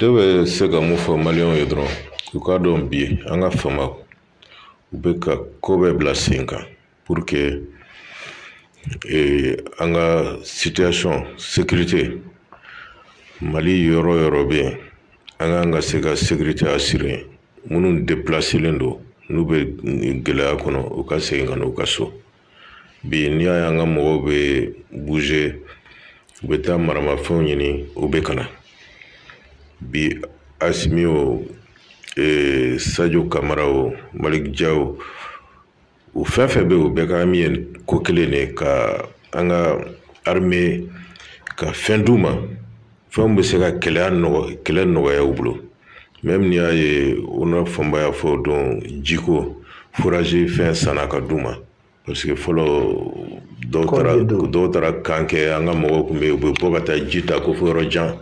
ne bɛ se ka mun fɔ maliyɛnw ye dɔrɔn u k'a dɔn bi an ka fama u bɛ ka ko bɛɛ bila sen kan pour que an ka situation sécurité mali yɔrɔ yɔrɔ bɛ yen an k'an ka se ka sécurité assurer minnu déplacelen don n'u bɛ gɛlɛya kɔnɔ u ka segin ka na u ka so bi n'i y'a ye an ka mɔgɔw bɛ bouger u bɛ taa maramafɛnw ɲini u bɛ ka na bi asimi o ee, sajo kamara o malik jaw o u fɛn fɛn bɛ yen u bɛɛ ka hami ye ko kelen de ka an ka arime ka fɛn d'u ma fɛnw bɛ se ka kɛlɛya nɔgɔ kɛlɛ nɔgɔya u bolo même n'i y'a ye u na fɔnba y'a fɔ don jiko furaji fɛn sanna ka d'u ma parce que fɔlɔ dɔw taara dɔw taara kan kɛ an ka mɔgɔw tun bɛ yen u bɛ bɔ ka taa ji ta ko fo yɔrɔ jan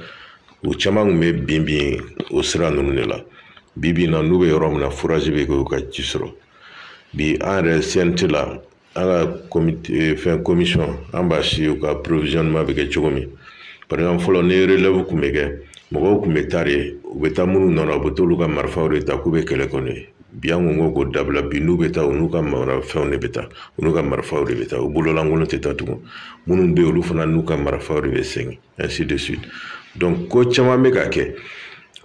u caman tun bɛ bin bin o sira ninnu de la bi bi in na n'u bɛ yɔrɔ min na furaji bɛ kɛ u ka ji sɔrɔ bi an yɛrɛ CNT la an ka eh, fɛn komisɔn an b'a si u ka provisionnement bɛ kɛ cogo min par exemple fɔlɔ ni relève tun bɛ kɛ mɔgɔw tun bɛ taa de u bɛ taa minnu nɔ na u bɛ t'olu ka marifaw de ta k'u bɛ kɛlɛ kɛ n'u ye bi an kun ko k'o dabila bi n'u bɛ taa u n'u ka marafɛnw de bɛ taa u n'u ka marifaw de bɛ taa u bololankolon tɛ taa tugun minnu bɛ yen olu fana n'u ka marifaw de bɛ segin ainsi de suite donc ko caman bɛ ka kɛ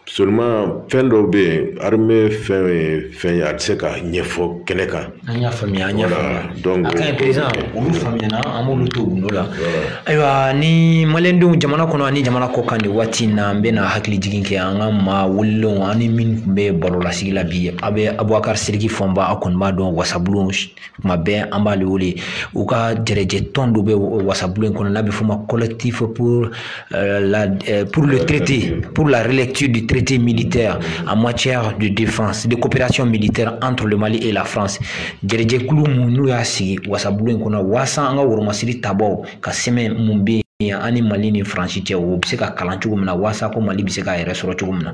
seulement fɛn dɔw bɛ yen armée fɛn ye fɛn ye a tɛ se ka ɲɛfɔ kɛnɛ kan. an y'a faamuya an y'a faamuya donc a ka ɲi président olu faamuyana an b'olu to gundo la ayiwa ni maliyɛndenw jamana kɔnɔ ani jamana kɔ kan nin waati in na an bɛna hakili jigin kɛ an ka maa welelenw ani minnu tun bɛ baro lasigi la bi a bɛ abubakari siriki fɔnba a kɔni b'a dɔn wasabulon tuma bɛɛ an b'ale wele u ka jɛrɛjɛ tɔn dɔ bɛ wasabulon in kɔnɔ n'a bɛ f'o ma collectif pour euh, la euh, pour le traité pour la relecture du traité militaire en matière de défense de coopération militaire entre le Mali et la France jɛrɛjɛkulu mun n'u y'a sigi wasabulon in kɔnɔ waasa an ka woromasiri tabaaw ka sɛbɛn mun bɛ yen an ni mali ni faransi cɛ o bɛ se ka kalan cogo min na waasa ko mali bɛ se k'a yɛrɛ sɔrɔ cogo min na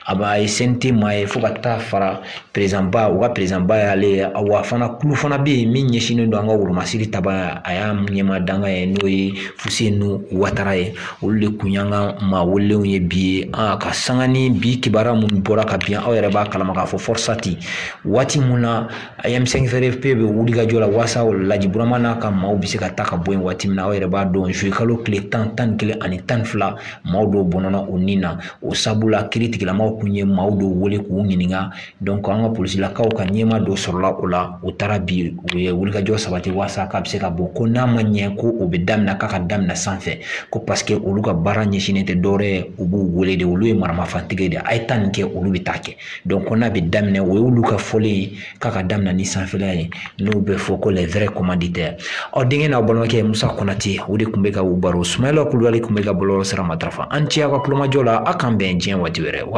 a b'a ye CNT maa ye fo ka taa fara perezidanba u ka perezidanba y'ale ye wa fana kulu fana bɛ yen min ɲɛsinnen don an ka woromasiri tabaa a y'a ɲɛmaa dankan ye n'o ye fusenu watara ye olu de kun y'an ka maa welelenw ye bi ye a ka sanga ni bi kibaruya minnu bɔra ka bin aw yɛrɛ b'a kalama k'a fɔ fɔrisati waati min na M5 RFP bɛ wuli ka jɔ la walasa o laji burama n'a ka maaw bɛ se ka taa ka bɔ yen waati min na aw yɛrɛ b'a dɔn zuye kalo tile tan tan ni kelen ani tan ni fila maaw dɔw bɔnɛna u ni na o sabula kiiritigɛlamaw tun ye maaw dɔw wele k'u ɲininka dɔnki an ka polisilakaw ka ɲɛmaa dɔ sɔrɔla o la u taara bi u ye wulikajɔ sabati waasa k'a bɛ se ka bɔ ko n'a ma ɲɛ ko o bɛ daminɛ k'a ka daminɛ sanfɛ ko paseke olu ka baara ɲɛsinnen tɛ dɔwɛrɛ ye u b'u wele de olu ye maramafɛntigi de ye a ye taa nin kɛ olu bɛ taa kɛ ko n'a bɛ daminɛ o y'olu ka fɔlen ye k'a ka daminɛ ni sanfɛla ye n'o bɛ fɔ ko les vrais commanditaires aw denkɛ n'aw balimakɛ musa konate o de tun bɛ k'aw baro sumayila kulubali tun bɛ ka bɔlɔlɔ sira matarafa aw ni ce aw ka tulomajɔ la a k'an bɛn diɲɛ waati wɛrɛ